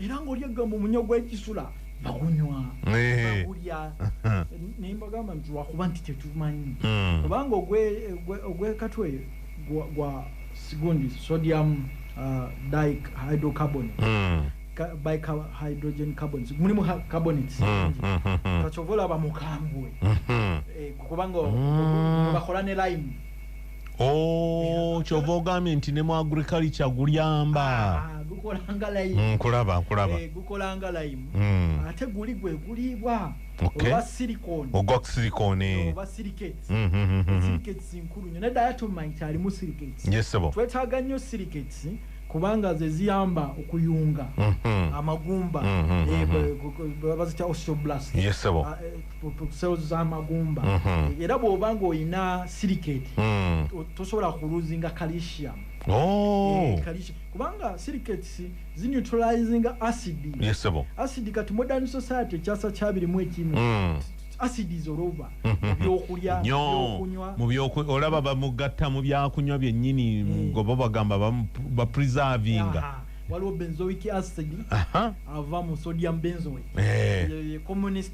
[SPEAKER 2] era nga olyagga mu munya gwekisula bagunywa bagulya naye mbagamba nti lwakuba nti tetumanyi hmm. kubanga ogwekatwe gwa sigundi sodium uh, dihydrocarbon hmm. by hydrogen carbon mulimu carbonate hmm, kakyovola bamukambwe eh, kubanga bakola ne lime Oh, kyova ogambye nti ne mu agriculture gulyamba ah, mm, nkulaba nkulaba eh,
[SPEAKER 1] gukolanga
[SPEAKER 2] limu mm. ate guli gwe guliibwa oba silicone ogwa silicone oba silicates mm, silicates nkulu nyo naye diatomine kyalimu silicates yes sebo twetaaga nnyo silicates kubanga ze ziyamba okuyunga mm-hmm. amagumba mm-hmm. eh, mm-hmm. bazita osteoblast yes sebo ah, eh, cells z'amagumba mhm. era bw'oba ng'olina silicate mm. tosobola kuluzinga calcium oh. eh, kubanga silicates zineutralizinga acid acid kati modern society ekyasa kyabirimu ekimu mm. acid is olova mhm. byokulya byokunywa mu byokunywa olaba bamugatta
[SPEAKER 1] mu byakunywa byennyini eh. gobo bagamba bapreservinga waliwo benzoic
[SPEAKER 2] acid ava mu sodium benzoic eh. communist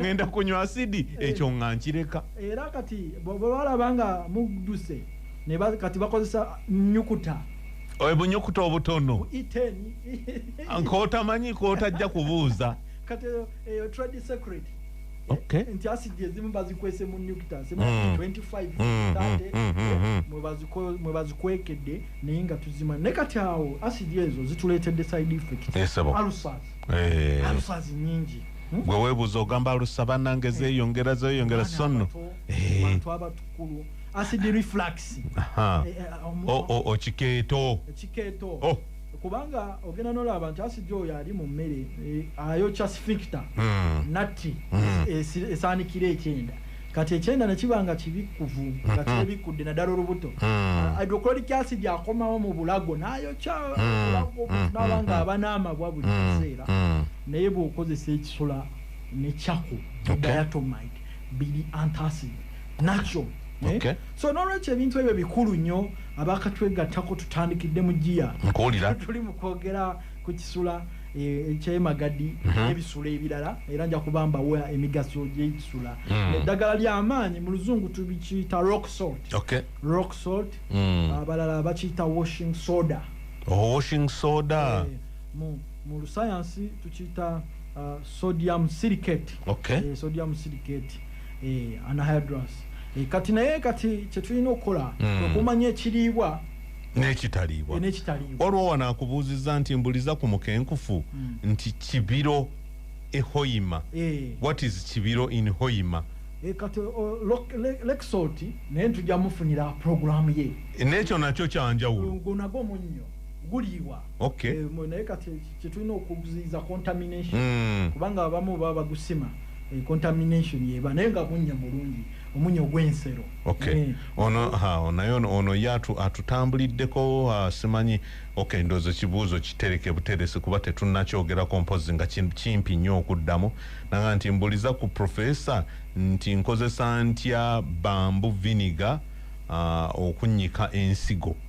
[SPEAKER 1] ngenda kunywa asidi eh. ekyo nga nkireka era kati
[SPEAKER 2] bwebalaba nga muduse kati bakozesa nyukuta obunyukuta
[SPEAKER 1] obutono nkotamanyi kotajja kubuuza kati eyo eh,
[SPEAKER 2] trade secret okay. nti asidi ezimu bazikwese mu nucta zemu 25 mwebazikwekedde naye nga tuzima naye kati awo asidi ezo zituleetedde side effect yes, eh. alufazi nyingi hmm? gwe webuuza
[SPEAKER 1] ogamba alusa banange eh. zeyongera zeyongera sonno bantu
[SPEAKER 2] abatukulu acid reflux okikeeto
[SPEAKER 1] ekikeeto oh, oh, oh, oh.
[SPEAKER 2] kubanga ogenda nolaba nti asidi oyo ali mu mmere eh, ayokya sfinkta hmm. natti hmm. esaanikira ekyenda Kati ekyenda ne kiba nga kibikkuvu nga mhm. kyebikkudde naddala olubuto hmm. hydrochloric acid akomawo mu bulago n'ayokya hmm. bulago hmm. n'aba nga aba n'amabwa buli kiseera naye bw'okozesa ekisula ne cako diatomite biri antacid nakyo eh? so n'olwekyo ebintu ebyo bikulu nnyo abakatwegattako tutandikidde mu giya tuli mu kwogera kukisula eh, ekyemagadi mhm. ebisula ebirala era nja kubambawo emigaso gyekisula hmm. eddagala lyamaanyi mu luzungu tubikiyita rock salt rock salt hmm. abalala bakiyita washing soda oh, washing soda eh, mu lusayansi tukiyita uh, sodium silicate eh, sodium silicate anahydrous kati naye kati kyetulina okukola hmm. okumanya ekiriibwa
[SPEAKER 1] nekitaliibwa waliwo wano akubuuzizza nti mbuliza ku mukenkufu mm. nti kibiro ehoima eh. what is kibiro in hoima eh, kati
[SPEAKER 2] lexoti naye ntuja mufunira programu ye nekyo nakyo
[SPEAKER 1] kyanjawulo gunago munyo
[SPEAKER 2] guliibwa okay. e, naye kati kyetulina okuziiza contamination mm. kubanga abamu baba bagusima e, contamination yeba naye nga munya mulungi omunya ogwensero Okay. Mm. Ono ha ono naye ono
[SPEAKER 1] ono yatu atutambuliddeko ha, simanyi okay ndozo kibuuzo kitereke buteresi kuba tetunnakyogerako mpozi nga kimpi nnyo okuddamu nanga nti mbuliza ku profesa nti nkozesa ntya bambu viniga uh, okunnyika ensigo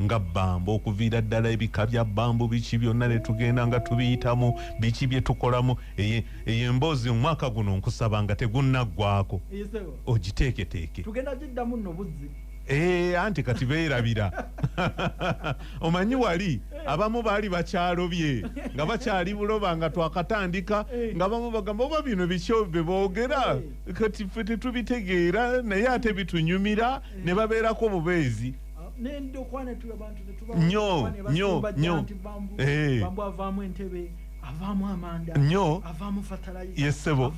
[SPEAKER 1] nga bbambu okuviira ddala ebika bya bbambu biki byonna ne tugenda nga tubiyitamu biki bye tukolamu eyo emboozi omwaka guno nkusaba nga tegunnaggwako ogiteeketeeke tugenda giddamu
[SPEAKER 2] nno buzzi ee eh, anti
[SPEAKER 1] kati beerabira omanyi wali eh. abamu baali bakyalobye nga bakyali buloba nga twakatandika eh. nga bamu bagamba oba bino bikyo be boogera kati fe tetubitegeera naye ate bitunyumira ne babeerako bubeezi nyo nyo nyo eh.
[SPEAKER 2] nyo yesebo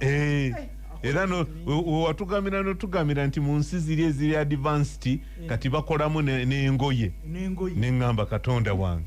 [SPEAKER 2] eh. eh, era
[SPEAKER 1] wewatugamira notugamira nti mu nsi ziri eziri advanced kati bakolamu nengoye neŋamba katonda wange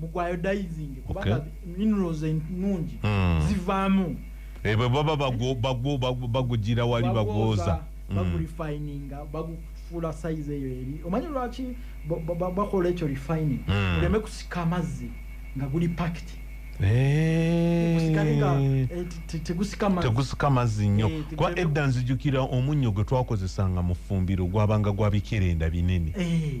[SPEAKER 2] muguiodizing kubanga okay. minerals enungi mm. zivamu ebwe baba
[SPEAKER 1] bagugira wali bagwoza hmm. bagurifininga
[SPEAKER 2] mm. bagu fula size eyo eri omanyi lwaki bakola ekyo refining hmm. oleme kusika amazzi nga guli pakit
[SPEAKER 1] tegusika mazzi nnyo eh, kuba edda nzijukira omunnyo gwe twakozesanga mu ffumbiro gwabanga gwabikerenda binene eh.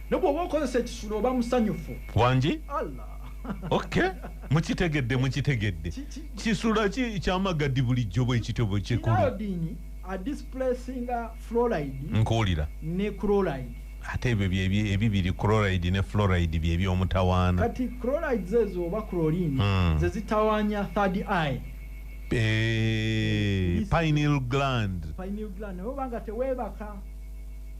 [SPEAKER 2] Ne bwoba okozesa ekisulo oba musanyufu. Wangi?
[SPEAKER 1] Allah. Okay. Mukitegedde mukitegedde. Kisula ki kyamagadi bulijjo bwe kityo bwe kikulu. Kinayo dini a displacinga
[SPEAKER 2] fluoride. Nkuulira.
[SPEAKER 1] Ne chloride.
[SPEAKER 2] ate ebyo
[SPEAKER 1] ebibiri chloride ne fluoride byebyo omutawaana kati chloride
[SPEAKER 2] zezo oba chlorine mm. zezitawanya third eye eh,
[SPEAKER 1] pineal gland pineal gland oba nga
[SPEAKER 2] tewebaka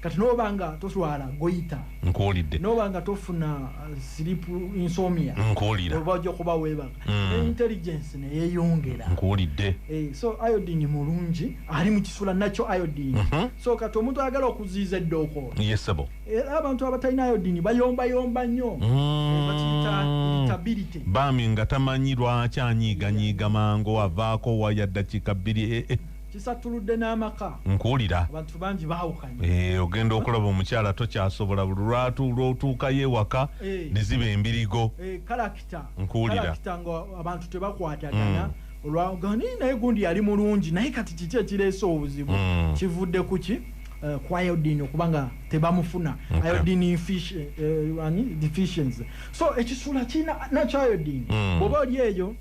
[SPEAKER 2] kati noba nga toswala goyita nkuwulidde noba
[SPEAKER 1] nga tofuna
[SPEAKER 2] uh, sleep insomnia nkuwulira oba ojja
[SPEAKER 1] kuba webaga
[SPEAKER 2] mm. intelligence neyeyongera nkuwulidde eh,
[SPEAKER 1] so iodine
[SPEAKER 2] mulungi ali mu kisula nakyo iodine mm -hmm. so kati omuntu ayagala okuziiza eddooko yesebo era
[SPEAKER 1] eh, abantu
[SPEAKER 2] abatalina iodine bayombayomba nnyo mm. eh, bami nga tamanyi
[SPEAKER 1] lwaki anyiiganyiiga mangu avaako waya ddakiika bbiri eh, eh. kisattuludde
[SPEAKER 2] n'amaka nkuwulira abantu
[SPEAKER 1] bangi
[SPEAKER 2] baawukanye eh, ogenda okulaba
[SPEAKER 1] omukyala tokyasobola buli lwatu lwotuukayo ewaka eh. ne ziba embirigo eh, kalakita
[SPEAKER 2] nkuwulira
[SPEAKER 1] nga abantu
[SPEAKER 2] tebakwatagana mm. olwagani naye gundi yali mulungi naye kati kiki ekireese obuzibu mm. kivudde ku ki Eh, ku iodine okuba nga tebamufuna iodine eh, deficiency so ekisula kirina nakyo iodine mm. bwoba oli eyo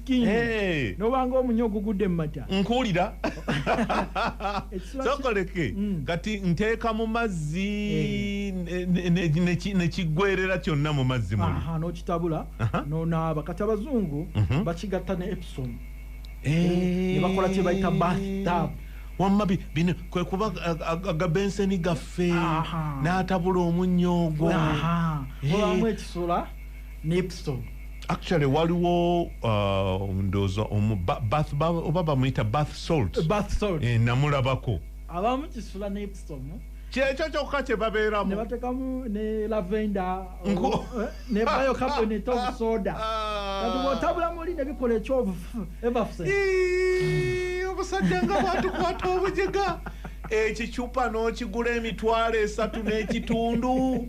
[SPEAKER 2] king hey. nobanga omunyo ogugudde mumata nkuwulira
[SPEAKER 1] sokoleke mm. kati nteeka mu mazzi hey. Eh. nekiggwerera kyonna mu mazzi muli nokitabula
[SPEAKER 2] nonaaba kati abazungu mm -hmm. bakigatta ne epsom hey. Eh. nebakola kyebayita bathtub wamma bino
[SPEAKER 1] kwe kuba agabenseni gaffe n'atabula omunnyo ogwo obamu
[SPEAKER 2] ekisula Nipson. Actually waliwo
[SPEAKER 1] uh, ndoza omu bath oba bamuyita bath salt. Bath salt. Eh, namulabako. Abamu
[SPEAKER 2] kisula Nipson. Kyekyo kyokka
[SPEAKER 1] kye babeeramu. Ne batekamu ne
[SPEAKER 2] lavender. Nko. Eh, ne biocarbonate of soda. Ah. Kati bwotabula muli ne bikola ekyovu ever fuse.
[SPEAKER 1] Obusajja nga bwatukwata obujega. Ekicupa n'okigula emitwalo esatu n'ekitundu.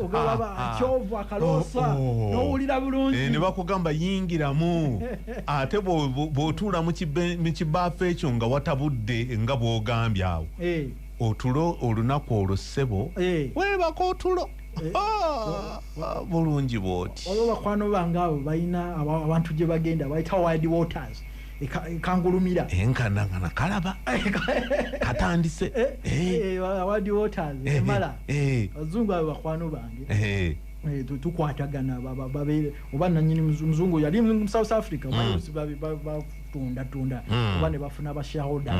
[SPEAKER 2] ogaba
[SPEAKER 1] ah, ah. kyovu
[SPEAKER 2] akaloosa oh, oh. nowulira bulungi eh, nebakugamba
[SPEAKER 1] yingiramu ate bwotuula mu kibaafu ekyo nga watabudde nga bwogambye awo eh. otulo olunaku olwo ssebo eh. webaka otulo ah, bulungi bwoti oba bakwano bange
[SPEAKER 2] abo balina abantu gye bagenda bayita wide waters kangulumira enkana nga
[SPEAKER 1] nakalaba katandise
[SPEAKER 2] awadi waters emala abazungu abo bakwano bange Eh, tukwatagana babeere oba nanyini muzungu yali mu south africa mm. batunda tunda mm. oba ne bafuna bashahoda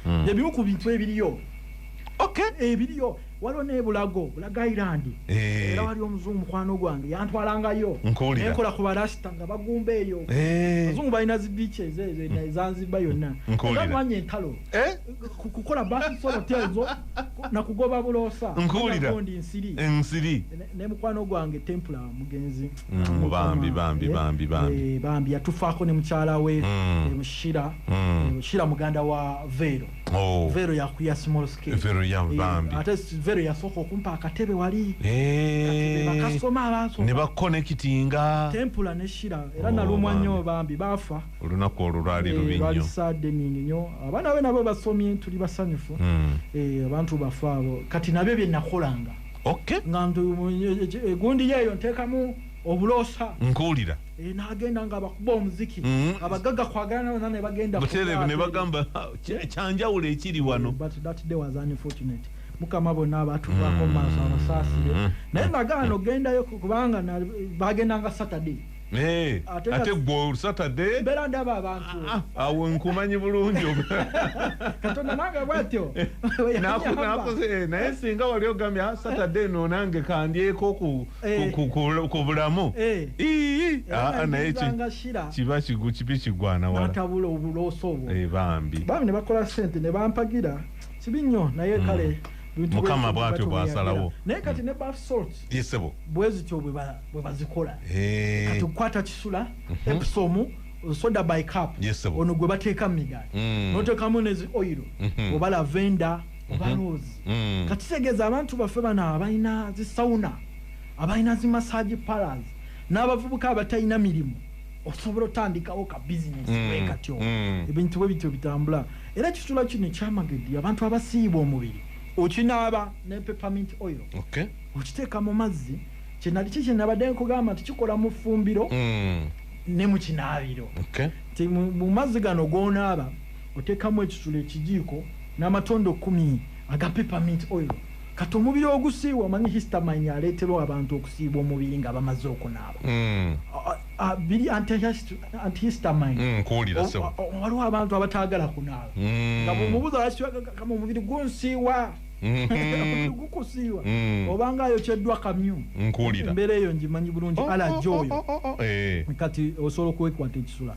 [SPEAKER 2] mm. ebimu ku bintu ebiriyo ebiriyo waliwo ne bulago bulago island eh. era wali omuzungu mukwano gwange yantwalangayo nenkola ku barasita nga bagumba eyo eh. abazungu balina zi beaches ezo eh, ezanziba yonna nkuwuliraamanya entalo kukola basisolotezo nakugoba buloosa nkuwuliraondi nsiri
[SPEAKER 1] ensiri ne mukwano
[SPEAKER 2] gwange tempula mugenzi mm, bambi bambi bambi bambi bambi yatufaako ne mukyala we mm. mushira mm. mushira muganda wa veero Oh. Vero ya kuya small scale. Vero ya mbambi. Eh, Ate Vero ya soko kumpa akatebe wali. Eee. Eh. Bakasoma abaso. Neba connectinga.
[SPEAKER 1] Tempula ne shira.
[SPEAKER 2] Era oh, na lumwa nyo bambi. Bafa. Uluna kwa ururari
[SPEAKER 1] luminyo. Eh, Rari sade ningi nyo.
[SPEAKER 2] Abana wena baba somi entu liba sanyufu. Mm. E, abantu bafa. Kati na bebe na kolanga. Okay. Ngandu gundi ya yonteka mu. obulosa nkuwulira eh,
[SPEAKER 1] nagenda nga
[SPEAKER 2] abakuba omuziki mm. abagaga kwagala nabona nebagenda buterevu nebagamba
[SPEAKER 1] kyanjawulo ekiri wano eh,
[SPEAKER 2] mukama bona abatuvako mm. maaso abasaasire mm. naye nagaana ogendayo kubanga bagendanga saturday eh, ate
[SPEAKER 1] gwe saturday bera ndaba abantu
[SPEAKER 2] ah, ah, awo nkumanyi
[SPEAKER 1] bulungi katonda
[SPEAKER 2] nange bwatyo nakoze
[SPEAKER 1] naye singa wali ogambye ah, saturday no nange kandyeko ku Eh. ku bulamu eh. ah, ah, naye kiba kibi kigwanawatabula obulooso
[SPEAKER 2] obwo eh, bambi bambi ne bakola
[SPEAKER 1] sente
[SPEAKER 2] ne bampagira kibi nnyo naye mm. kale mukama bwatyo
[SPEAKER 1] bwasalawo naye kati mm. ne baf
[SPEAKER 2] salt yesebo bwezityo
[SPEAKER 1] bwe
[SPEAKER 2] bazikola kati okukwata kisula mhm. episomu soda by cup ono gwe bateeka mu migaati mm. noteekamu nezi oyiro mhm. oba lavenda obaloozi mm-hmm. mm-hmm. kati kitegeeza abantu baffe bano abalina zi sauna abalina zi massage paras n'abavubuka abatalina mirimu osobola otandikawo ka bizinesi mm-hmm. wekatyo ebintu bwe bityo bitambula era ekisula kino ekyamagedi abantu abasiiba omubiri okinaaba ne peppermint oil okiteeka mu mazzi kyenali ki kyenabadde nkugamba nti kikola mu ffumbiro mm. ne mu kinaabiro mu mazzi gano gonaaba Oteekamu ekisula ekijiiko n'amatondo kkumi aga peppermint oil kati omubiri ogusiiwa. Omanyi histamine y'aleetera abantu okusiiba omubiri nga bamaze okunaaba? Biri antihistamine. Nkuwulira
[SPEAKER 1] ssebo. Waliwo abantu
[SPEAKER 2] abataagala kunaaba nga bw'omubuuza lwaki toyagala kama omubiri gunsiiwa. Omubiri gukusiiwa oba ng'ayokyeddwa kamyu. Nkuwulira. Embeera eyo ngimanyi bulungi, alaji oyo. Kati osobola okwekwata ekisula.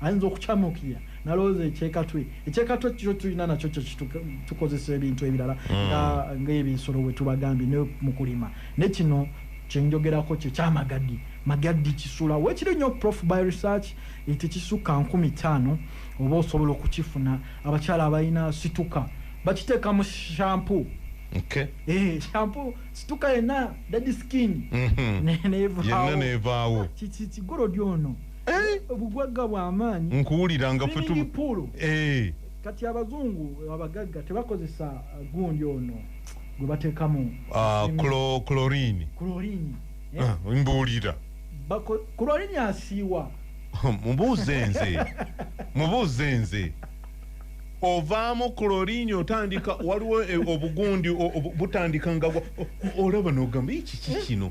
[SPEAKER 2] ayinza okucamuukirira nalowooza ekyekatwe ekyekatwe kyo tulina nakyo kyekitukozesa ebintu ebirala hmm. ngaebisolo wetubagambye ne mukulima ne kino kyenjogerako kyekyamagadi magadi kisula wekiri nyo prof by research etekisukka eh, nkumi taano oba osobola okukifuna abakyala abalina situka bakiteeka mu shampu Okay. Eh, shampoo situka yena daddy skin. Mhm. Mm Yenna nevaawo.
[SPEAKER 1] Kigoro dyono.
[SPEAKER 2] eh? obugwagga bwamaanyi nkuwulira nga
[SPEAKER 1] fetupuulu eh.
[SPEAKER 2] kati abazungu abagagga tebakozesa uh, gundi ono gwe batekamu ah,
[SPEAKER 1] clorini clorini eh? ah, mbuulira
[SPEAKER 2] clorini asiiwa mubuuze nze
[SPEAKER 1] mubuuze nze ovaamu kuloriini otandika waliwo eh, obugundi butandika nga olaba nogamba ekiki kino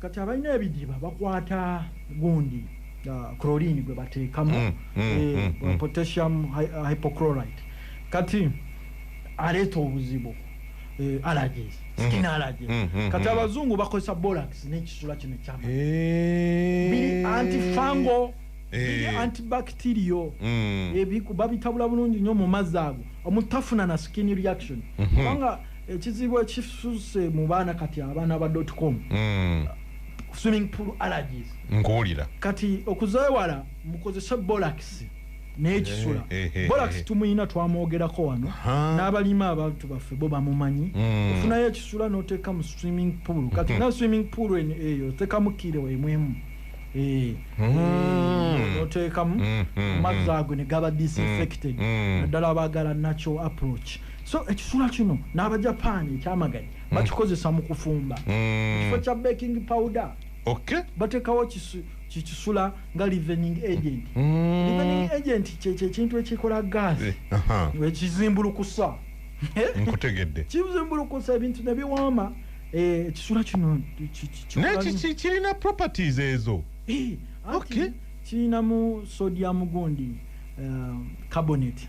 [SPEAKER 1] kati abalina ebidiba
[SPEAKER 2] bakwata gundi uh, chlorine gwe bateekamu mm, mm, eh, mm, mm. potassium hy uh, hypochlorite kati aleeta obuzibu eh, allergies mm-hmm. skin allergies mm, mm, kati abazungu bakozesa bolax nekisula kino kyama eh. biri antifango biri eh. antibacterial mm. ebiku babitabula bulungi nyo mu mazzi ago omutafuna na skin reaction mm-hmm. kubanga mm -hmm. ekizibu ekisuse mu baana kati abaana ba dot com mm. swimming pool allergies nkuwulira kati
[SPEAKER 1] okuzewala
[SPEAKER 2] mukozese bolax nekisula eh, eh, eh, bolax tumuyina twamwogerako wano n'abalima abantu baffe bo bamumanyi mm. ofunayo ekisula noteeka mu swimming pool kati mm-hmm. na swimming pool eyo otekamu kire wemwemu mm-hmm. oteekamu mm-hmm. amazzi ago negaba disinfected naddala abagala natural approach so ekisula kino n'abajapaani ekyamagadi mm. bakikozesa mu kufumba mm. ekifo kya baking powder okay. batekawo kikisula nga livening agent mm. livening agent kyekyekintu ekikola gas eh, ekizimbulukusa
[SPEAKER 1] nkutegedde kizimbulukusa
[SPEAKER 2] ebintu nebiwaama eh, ekisula kino
[SPEAKER 1] kirina properties ezo eh, kirinamu
[SPEAKER 2] sodium gundi carbonate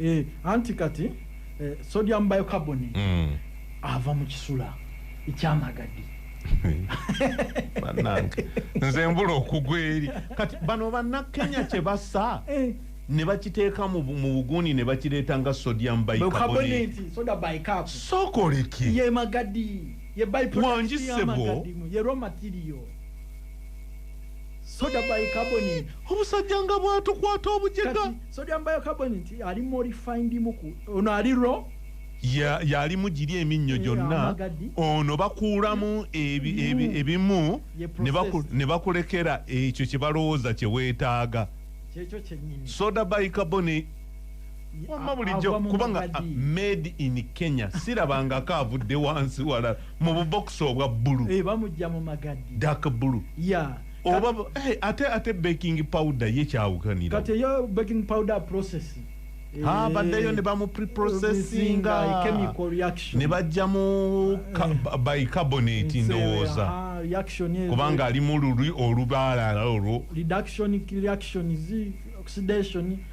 [SPEAKER 1] eh,
[SPEAKER 2] anti kati eh, sodium bicarbonate mm. ava mu kisula ekyamagadi
[SPEAKER 1] banange nze mbula okugwa eri kati bano bannakenya kye basa eh. ne bakiteeka mu bugundi ne bakireeta nga sodium bicarbonatesokoleki
[SPEAKER 2] wangisebo soda bicarbonate obusajja nga
[SPEAKER 1] bwatukwata obujega sodium bicarbonate
[SPEAKER 2] ali modified muku ono ali ro yalimu
[SPEAKER 1] giri eminnyo gyonna ono bakuulamu ebimu ne bakulekera ekyo kye balowooza kye weetaaga soda bicarbonate wamma bulijjo kubanga ah, made in kenya sirabangako avudde wansi walala mu bubokisi obwa bbulu eh, bamujja mu magadi
[SPEAKER 2] dak bbulu
[SPEAKER 1] ya oba
[SPEAKER 2] eh, ate
[SPEAKER 1] ate baking
[SPEAKER 2] powder
[SPEAKER 1] ye
[SPEAKER 2] kyawukanira
[SPEAKER 1] kati eyo
[SPEAKER 2] baking
[SPEAKER 1] powder
[SPEAKER 2] process
[SPEAKER 1] eh, ha baddeyo ne bamu preprocessinga
[SPEAKER 2] ne bajja mu
[SPEAKER 1] by carbonate ndowooza kubanga ali mu lulwi olubaalala olwo reduction
[SPEAKER 2] reaction is oxidation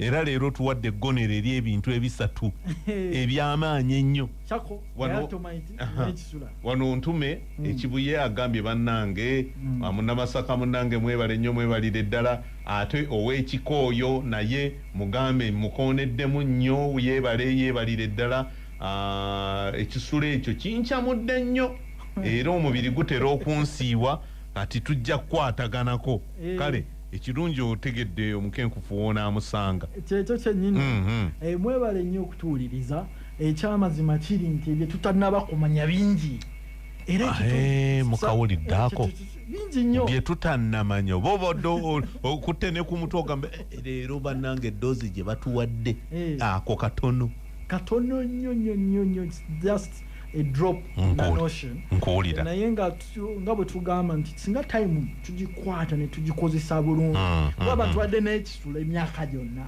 [SPEAKER 2] era leero tuwadde
[SPEAKER 1] eggonero eri ebintu ebisatu eby'amaanyi ennyo wano ntume hmm. ekibuye agambye bannange hmm. amunamasaka munnange mwebale nnyo mwebalire ddala ate ow'ekikooyo naye mugambe mukooneddemu nnyo yebale yebalire ddala ah, ekisula ekyo kincamudde nnyo hmm. era omubiri gutera okunsiiwa kati tujja kukwataganako eh. kale ekirungi otegedde omukenkufu wonaamusanga kyekyo kyenyini mm
[SPEAKER 2] -hmm. e, mwebale nnyo okutuwuliriza ekyamazima kiri nti ebyo tutanaba kumanya bingi era eh, mukawulidde
[SPEAKER 1] ako bingi
[SPEAKER 2] nnyo bye tutanamanya
[SPEAKER 1] oba obadde okutte ne ku mutwe ogamba eh, eh, leero bannanga eddoozi gye batuwadde ako katono katono nnyo nnyo nnyo nnyo just
[SPEAKER 2] a drop in the notion nkuwulira naye nga nga bwe tugamba nti singa time tugikwata ne tugikozesa bulungi mm, kuba mm, abantu mm. badde n'ekisula emyaka gyonna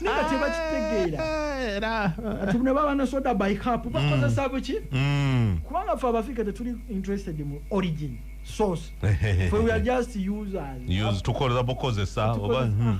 [SPEAKER 2] naye nga tebakitegeera ah, ati ne baba nesoda by cap bakozesa buki kubanga fe abafiika tetuli interested mu origin source fe we are just users tukozesa bukozesa
[SPEAKER 1] oba hmm.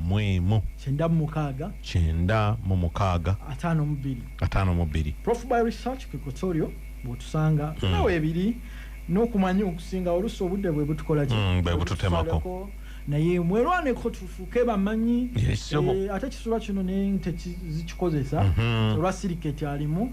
[SPEAKER 2] mu emu. Kyenda mu mukaaga. Kyenda mu mukaaga. Ataano mu bbiri. Ataano mu bbiri. Prof by research ku Equatorio bw'otusanga mm. nawe ebiri n'okumanya okusinga olusi obudde bwe butukola ki. Mm, bwe bututemako.
[SPEAKER 1] naye
[SPEAKER 2] mwerwaneko tufuuke bamanyi eh, ate kisula kino nte zikikozesa mhm. olwa siriketi alimu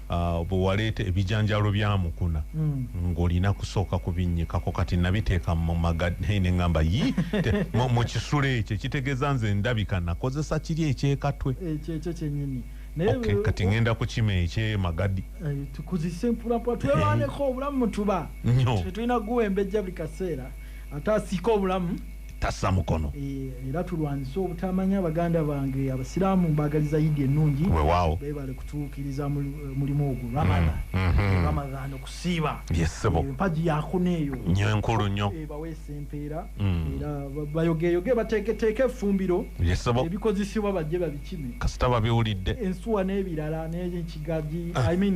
[SPEAKER 1] Ah, bwewaleeta ebijanjaalo bya mukuna mm. ng'olina kusooka kubinnyikako kati nabiteeka mu magadhei ne ŋŋamba yi mu kisula ekyo ekitegeeza nze ndabika nakozesa kiri ekyekatwe ekyo ekyo kyennyini
[SPEAKER 2] okay, kati ngenda
[SPEAKER 1] kukima ekyemagadi eh, tukuzise
[SPEAKER 2] mpulapula twelwaneko obulamu mutuba tetulina kuguwembejja buli kaseera ate asiika obulamu tassa
[SPEAKER 1] mukono eh, era tulwanyise
[SPEAKER 2] obutamanya baganda bange abasiraamu mbagaliza yidi ennungi wewaawo bebale
[SPEAKER 1] kutuukiriza
[SPEAKER 2] eh, mulimu ogwo mm, ramadhan mm-hmm. ramadhan okusiiba yesebo eh, mpagi yakuna eyo nyo enkulu nyo
[SPEAKER 1] baweesa empeera mm.
[SPEAKER 2] era bayogeyoge bateeketeeke effumbiro yesebo ebikozesebwa bajje babikime kasita babiwulidde
[SPEAKER 1] ensuwa n'ebirala
[SPEAKER 2] n'ekigagi ah. i mean